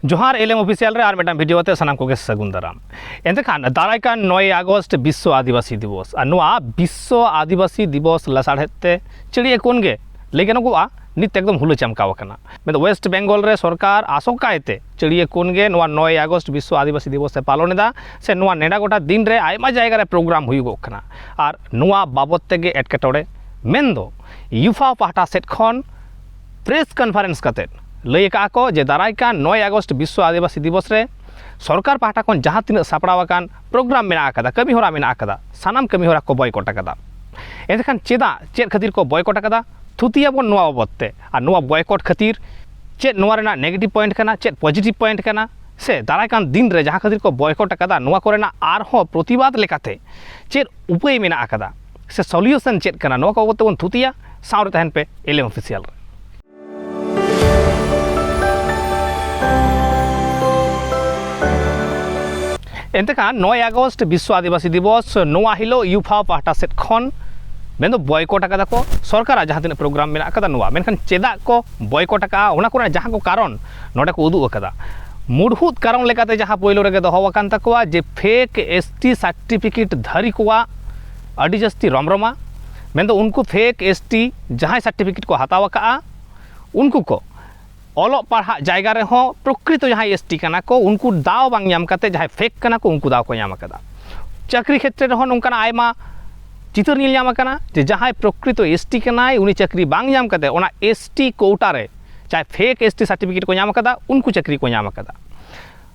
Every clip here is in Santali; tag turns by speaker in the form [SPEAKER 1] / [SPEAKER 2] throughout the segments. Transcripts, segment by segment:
[SPEAKER 1] ᱡᱚᱦᱟᱨ ᱮᱞ ᱮᱢ ᱚᱯᱷᱤᱥᱤᱭᱟᱞ ᱨᱮ ᱟᱨ ᱢᱤᱫᱴᱟᱝ ᱵᱷᱤᱰᱤᱭᱳ ᱟᱛᱮ ᱥᱟᱱᱟᱢ ᱠᱚᱜᱮ ᱥᱟᱹᱜᱩᱱ ᱫᱟᱨᱟᱢ ᱮᱱᱛᱮᱠᱷᱟᱱ ᱫᱟᱨᱟᱭ ᱠᱟᱱ ᱱᱚᱭ ᱟᱜᱚᱥᱴ ᱵᱤᱥᱥᱚ ᱟᱹᱫᱤᱵᱟᱹᱥᱤ ᱫᱤᱵᱚᱥ ᱟᱨ ᱱᱚᱣᱟ ᱵᱤᱥᱥᱚ ᱟᱹᱫᱤᱵᱟᱹᱥᱤ ᱫᱤᱵᱚᱥ ᱞᱟᱥᱟᱲᱦᱮᱫ ᱛᱮ ᱪᱤᱲᱤᱭᱟᱹ ᱠᱚᱱ ᱜᱮ ᱞᱟᱹᱭ ᱜᱟᱱᱚᱜᱚᱜᱼᱟ ᱱᱤᱛ ᱮᱠᱫᱚᱢ ᱦᱩᱞᱟᱹ ᱪᱟᱢᱠᱟᱣ ᱟᱠᱟᱱᱟ ᱢᱮᱱ ᱣᱮᱥᱴ ᱵᱮᱝᱜᱚᱞ ᱨᱮ ᱥᱚᱨᱠᱟᱨ ᱟᱥᱚᱠᱟᱭᱛᱮ ᱪᱤᱲᱤᱭᱟᱹ ᱠᱚᱱ ᱜᱮ ᱱᱚᱣᱟ ᱱᱚᱭ ᱟᱜᱚᱥᱴ ᱵᱤᱥᱥᱚ ᱟᱹᱫᱤᱵᱟᱹᱥᱤ ᱫᱤᱵᱚᱥ ᱮ ᱯᱟᱞᱚᱱ ᱮᱫᱟ ᱥᱮ ᱱᱚᱣᱟ ᱱᱮᱰᱟ ᱜᱚᱴᱟ ᱫᱤᱱ ᱨᱮ ᱟᱭᱢᱟ ᱡᱟᱭᱜᱟ ᱨᱮ ᱯᱨᱳᱜᱨᱟᱢ ᱦᱩᱭᱩᱜᱚᱜ ᱠᱟᱱᱟ ᱟᱨ ᱱᱚᱣᱟ ᱵᱟᱵᱚᱫ ᱛᱮᱜᱮ ᱮᱴᱠᱮᱴᱚᱬᱮ ᱢᱮᱱᱫᱚ ᱭᱩᱯᱷᱟ ᱯᱟᱦᱴᱟ ᱥᱮᱫ ᱠᱷᱚᱱ ᱯᱨᱮᱥ ᱠᱚᱱᱯᱷᱟᱨᱮᱱᱥ ᱠᱟᱛᱮ ᱞᱟᱹᱭ ᱟᱠᱟᱫᱼᱟ ᱠᱚ ᱡᱮ ᱫᱟᱨᱟᱭ ᱠᱟᱱ ᱱᱚᱭ ᱟᱜᱚᱥᱴ ᱵᱤᱥᱥᱚ ᱟᱹᱫᱤᱵᱟᱹᱥᱤ ᱫᱤᱵᱚᱥ ᱨᱮ ᱥᱚᱨᱠᱟᱨ ᱯᱟᱦᱴᱟ ᱠᱷᱚᱱ ᱡᱟᱦᱟᱸ ᱛᱤᱱᱟᱹᱜ ᱥᱟᱯᱲᱟᱣ ᱟᱠᱟᱱ ᱯᱨᱳᱜᱨᱟᱢ ᱢᱮᱱᱟᱜ ᱟᱠᱟᱫᱟ ᱠᱟᱹᱢᱤ ᱦᱚᱨᱟ ᱢᱮᱱᱟᱜ ᱟᱠᱟᱫᱟ ᱥᱟᱱᱟᱢ ᱠᱟᱹᱢᱤ ᱦᱚᱨᱟ ᱠᱚ ᱵᱚᱭᱠᱚᱴ ᱟᱠᱟᱫᱟ ᱮᱱᱠᱷᱟᱱ ᱪᱮᱫᱟᱜ ᱪᱮᱫ ᱠᱷᱟᱹᱛᱤᱨ ᱠᱚ ᱵᱚᱭᱠᱚᱴ ᱟᱠᱟᱫᱟ ᱛᱷᱩᱛᱤᱭᱟᱵᱚᱱ ᱱᱚᱣᱟ ᱵᱟᱵᱚᱫ ᱛᱮ ᱟᱨ ᱱᱚᱣᱟ ᱵᱚᱭᱠᱚᱴ ᱠᱷᱟᱹᱛᱤᱨ ᱪᱮᱫ ᱱᱚᱣᱟ ᱨᱮᱱᱟᱜ ᱱᱮᱜᱮᱴᱤᱵᱷ ᱯᱚᱭᱮᱱᱴ ᱠᱟᱱᱟ ᱪᱮᱫ ᱯᱚᱡᱤᱴᱤᱵᱷ ᱯᱚᱭᱮᱱᱴ ᱠᱟᱱᱟ ᱥᱮ ᱫᱟᱨᱟᱭ ᱠᱟᱱ ᱫᱤᱱ ᱨᱮ ᱡᱟᱦᱟᱸ ᱠᱷᱟᱹᱛᱤᱨ ᱠᱚ ᱵᱚᱭᱠᱚᱴ ᱟᱠᱟᱫᱟ ᱱᱚᱣᱟ ᱠᱚᱨᱮᱱᱟᱜ ᱟᱨᱦᱚᱸ ᱯᱨᱚᱛᱤᱵᱟᱫ ᱞᱮᱠᱟᱛᱮ ᱪᱮᱫ ᱩᱯᱟᱹᱭ ᱢᱮᱱᱟᱜ ᱟᱠᱟᱫᱟ ᱥᱮ ᱥᱚᱞᱤᱭᱩᱥᱚᱱ ᱪᱮᱫ ᱠᱟᱱᱟ ᱱᱚᱣᱟ ᱠᱚ ᱛᱮᱵᱚᱱ ᱛᱷᱩᱛᱤᱭᱟ ᱥᱟᱶᱨᱮ ᱛᱟᱦᱮᱱ ᱯᱮ ᱮᱞᱮᱢ ᱚᱯᱷᱤᱥᱤᱭᱟᱞ ᱨᱮ ᱮᱱᱛᱮ ᱠᱷᱟᱱ ᱱᱚᱭ ᱟᱜᱚᱥᱴ ᱵᱤᱥᱥᱚ ᱟᱹᱫᱤᱵᱟᱹᱥᱤ ᱫᱤᱵᱚᱥ ᱱᱚᱣᱟ ᱦᱤᱞᱳᱜ ᱤᱭᱩᱯᱷᱟ ᱯᱟᱦᱴᱟ ᱥᱮᱫ ᱠᱷᱚᱱ ᱢᱮᱱᱫᱚ ᱵᱚᱭᱠᱚᱴ ᱟᱠᱟᱫᱟ ᱠᱚ ᱥᱚᱨᱠᱟᱨᱟᱜ ᱡᱟᱦᱟᱸ ᱛᱤᱱᱟᱹᱜ ᱯᱨᱳᱜᱨᱟᱢ ᱢᱮᱱᱟᱜ ᱟᱠᱟᱫᱟ ᱱᱚᱣᱟ ᱢᱮᱱᱠᱷᱟᱱ ᱪᱮᱫᱟᱜ ᱠᱚ ᱵᱚᱭᱠᱚᱴ ᱟᱠᱟᱫᱼᱟ ᱚᱱᱟ ᱠᱚᱨᱮᱱᱟᱜ ᱡᱟᱦᱟᱸ ᱠᱚ ᱠᱟᱨᱚᱱ ᱱᱚᱰᱮ ᱠᱚ ᱩᱫᱩᱜ ᱟᱠᱟᱫᱟ ᱢᱩᱲᱦᱩᱫ ᱠᱟᱨᱚᱱ ᱞᱮᱠᱟᱛᱮ ᱡᱟᱦᱟᱸ ᱯᱳᱭᱞᱳ ᱨᱮᱜᱮ ᱫᱚᱦᱚ ᱟᱠᱟᱱ ᱛᱟᱠᱚᱣᱟ ᱡᱮ ᱯᱷᱮᱠ ᱮᱥ ᱴᱤ ᱥᱟᱨᱴᱤᱯᱷᱤᱠᱮᱴ ᱫᱷᱟᱹᱨᱤ ᱠᱚᱣᱟᱜ ᱟᱹᱰᱤ ᱡᱟᱹᱥᱛᱤ ᱨᱚᱢᱨᱚᱢᱟ ᱢᱮᱱᱫᱚ ᱩᱱᱠᱩ ᱯᱷᱮᱠ ᱮᱥ ᱴᱤ ᱡᱟᱦᱟᱸᱭ ᱥᱟᱨᱴᱤᱯᱷᱤᱠᱮᱴ ᱠᱚ ᱦᱟᱛᱟᱣ ᱟᱠᱟᱫᱼᱟ ᱩᱱᱠᱩ ᱠᱚ ᱚᱞᱚᱜ ᱯᱟᱲᱦᱟᱜ ᱡᱟᱭᱜᱟ ᱨᱮᱦᱚᱸ ᱯᱨᱚᱠᱨᱤᱛᱚ ᱡᱟᱦᱟᱸᱭ ᱮᱥ ᱴᱤ ᱠᱟᱱᱟ ᱠᱚ ᱩᱱᱠᱩ ᱫᱟᱣ ᱵᱟᱝ ᱧᱟᱢ ᱠᱟᱛᱮ ᱡᱟᱦᱟᱸᱭ ᱯᱷᱮᱠ ᱠᱟᱱᱟ ᱠᱚ ᱩᱱᱠᱩ ᱫᱟᱣ ᱠᱚ ᱧᱟᱢ ᱟᱠᱟᱫᱟ ᱪᱟᱹᱠᱨᱤ ᱠᱷᱮᱛᱨᱮ ᱨᱮᱦᱚᱸ ᱱᱚᱝᱠᱟᱱᱟᱜ ᱟᱭᱢᱟ ᱪᱤᱛᱟᱹᱨ ᱧᱮᱞ ᱧᱟᱢ ᱟᱠᱟᱱᱟ ᱡᱮ ᱡᱟᱦᱟᱸᱭ ᱯᱨᱚᱠᱨᱤᱛᱚ ᱮᱥ ᱴᱤ ᱠᱟᱱᱟᱭ ᱩᱱᱤ ᱪᱟᱹᱠᱨᱤ ᱵᱟᱝ ᱧᱟᱢ ᱠᱟᱛᱮ ᱚᱱᱟ ᱮᱥ ᱴᱤ ᱠᱳᱣᱴᱟ ᱨᱮ ᱡᱟᱦᱟᱸᱭ ᱯᱷᱮᱠ ᱮᱥ ᱴᱤ ᱥᱟᱨᱴᱤᱯᱷᱤᱠᱮᱴ ᱠᱚ ᱧᱟᱢ ᱟᱠᱟᱫᱟ ᱩᱱᱠᱩ ᱪᱟᱹᱠᱨᱤ ᱠᱚ ᱧᱟᱢ ᱟᱠᱟᱫᱟ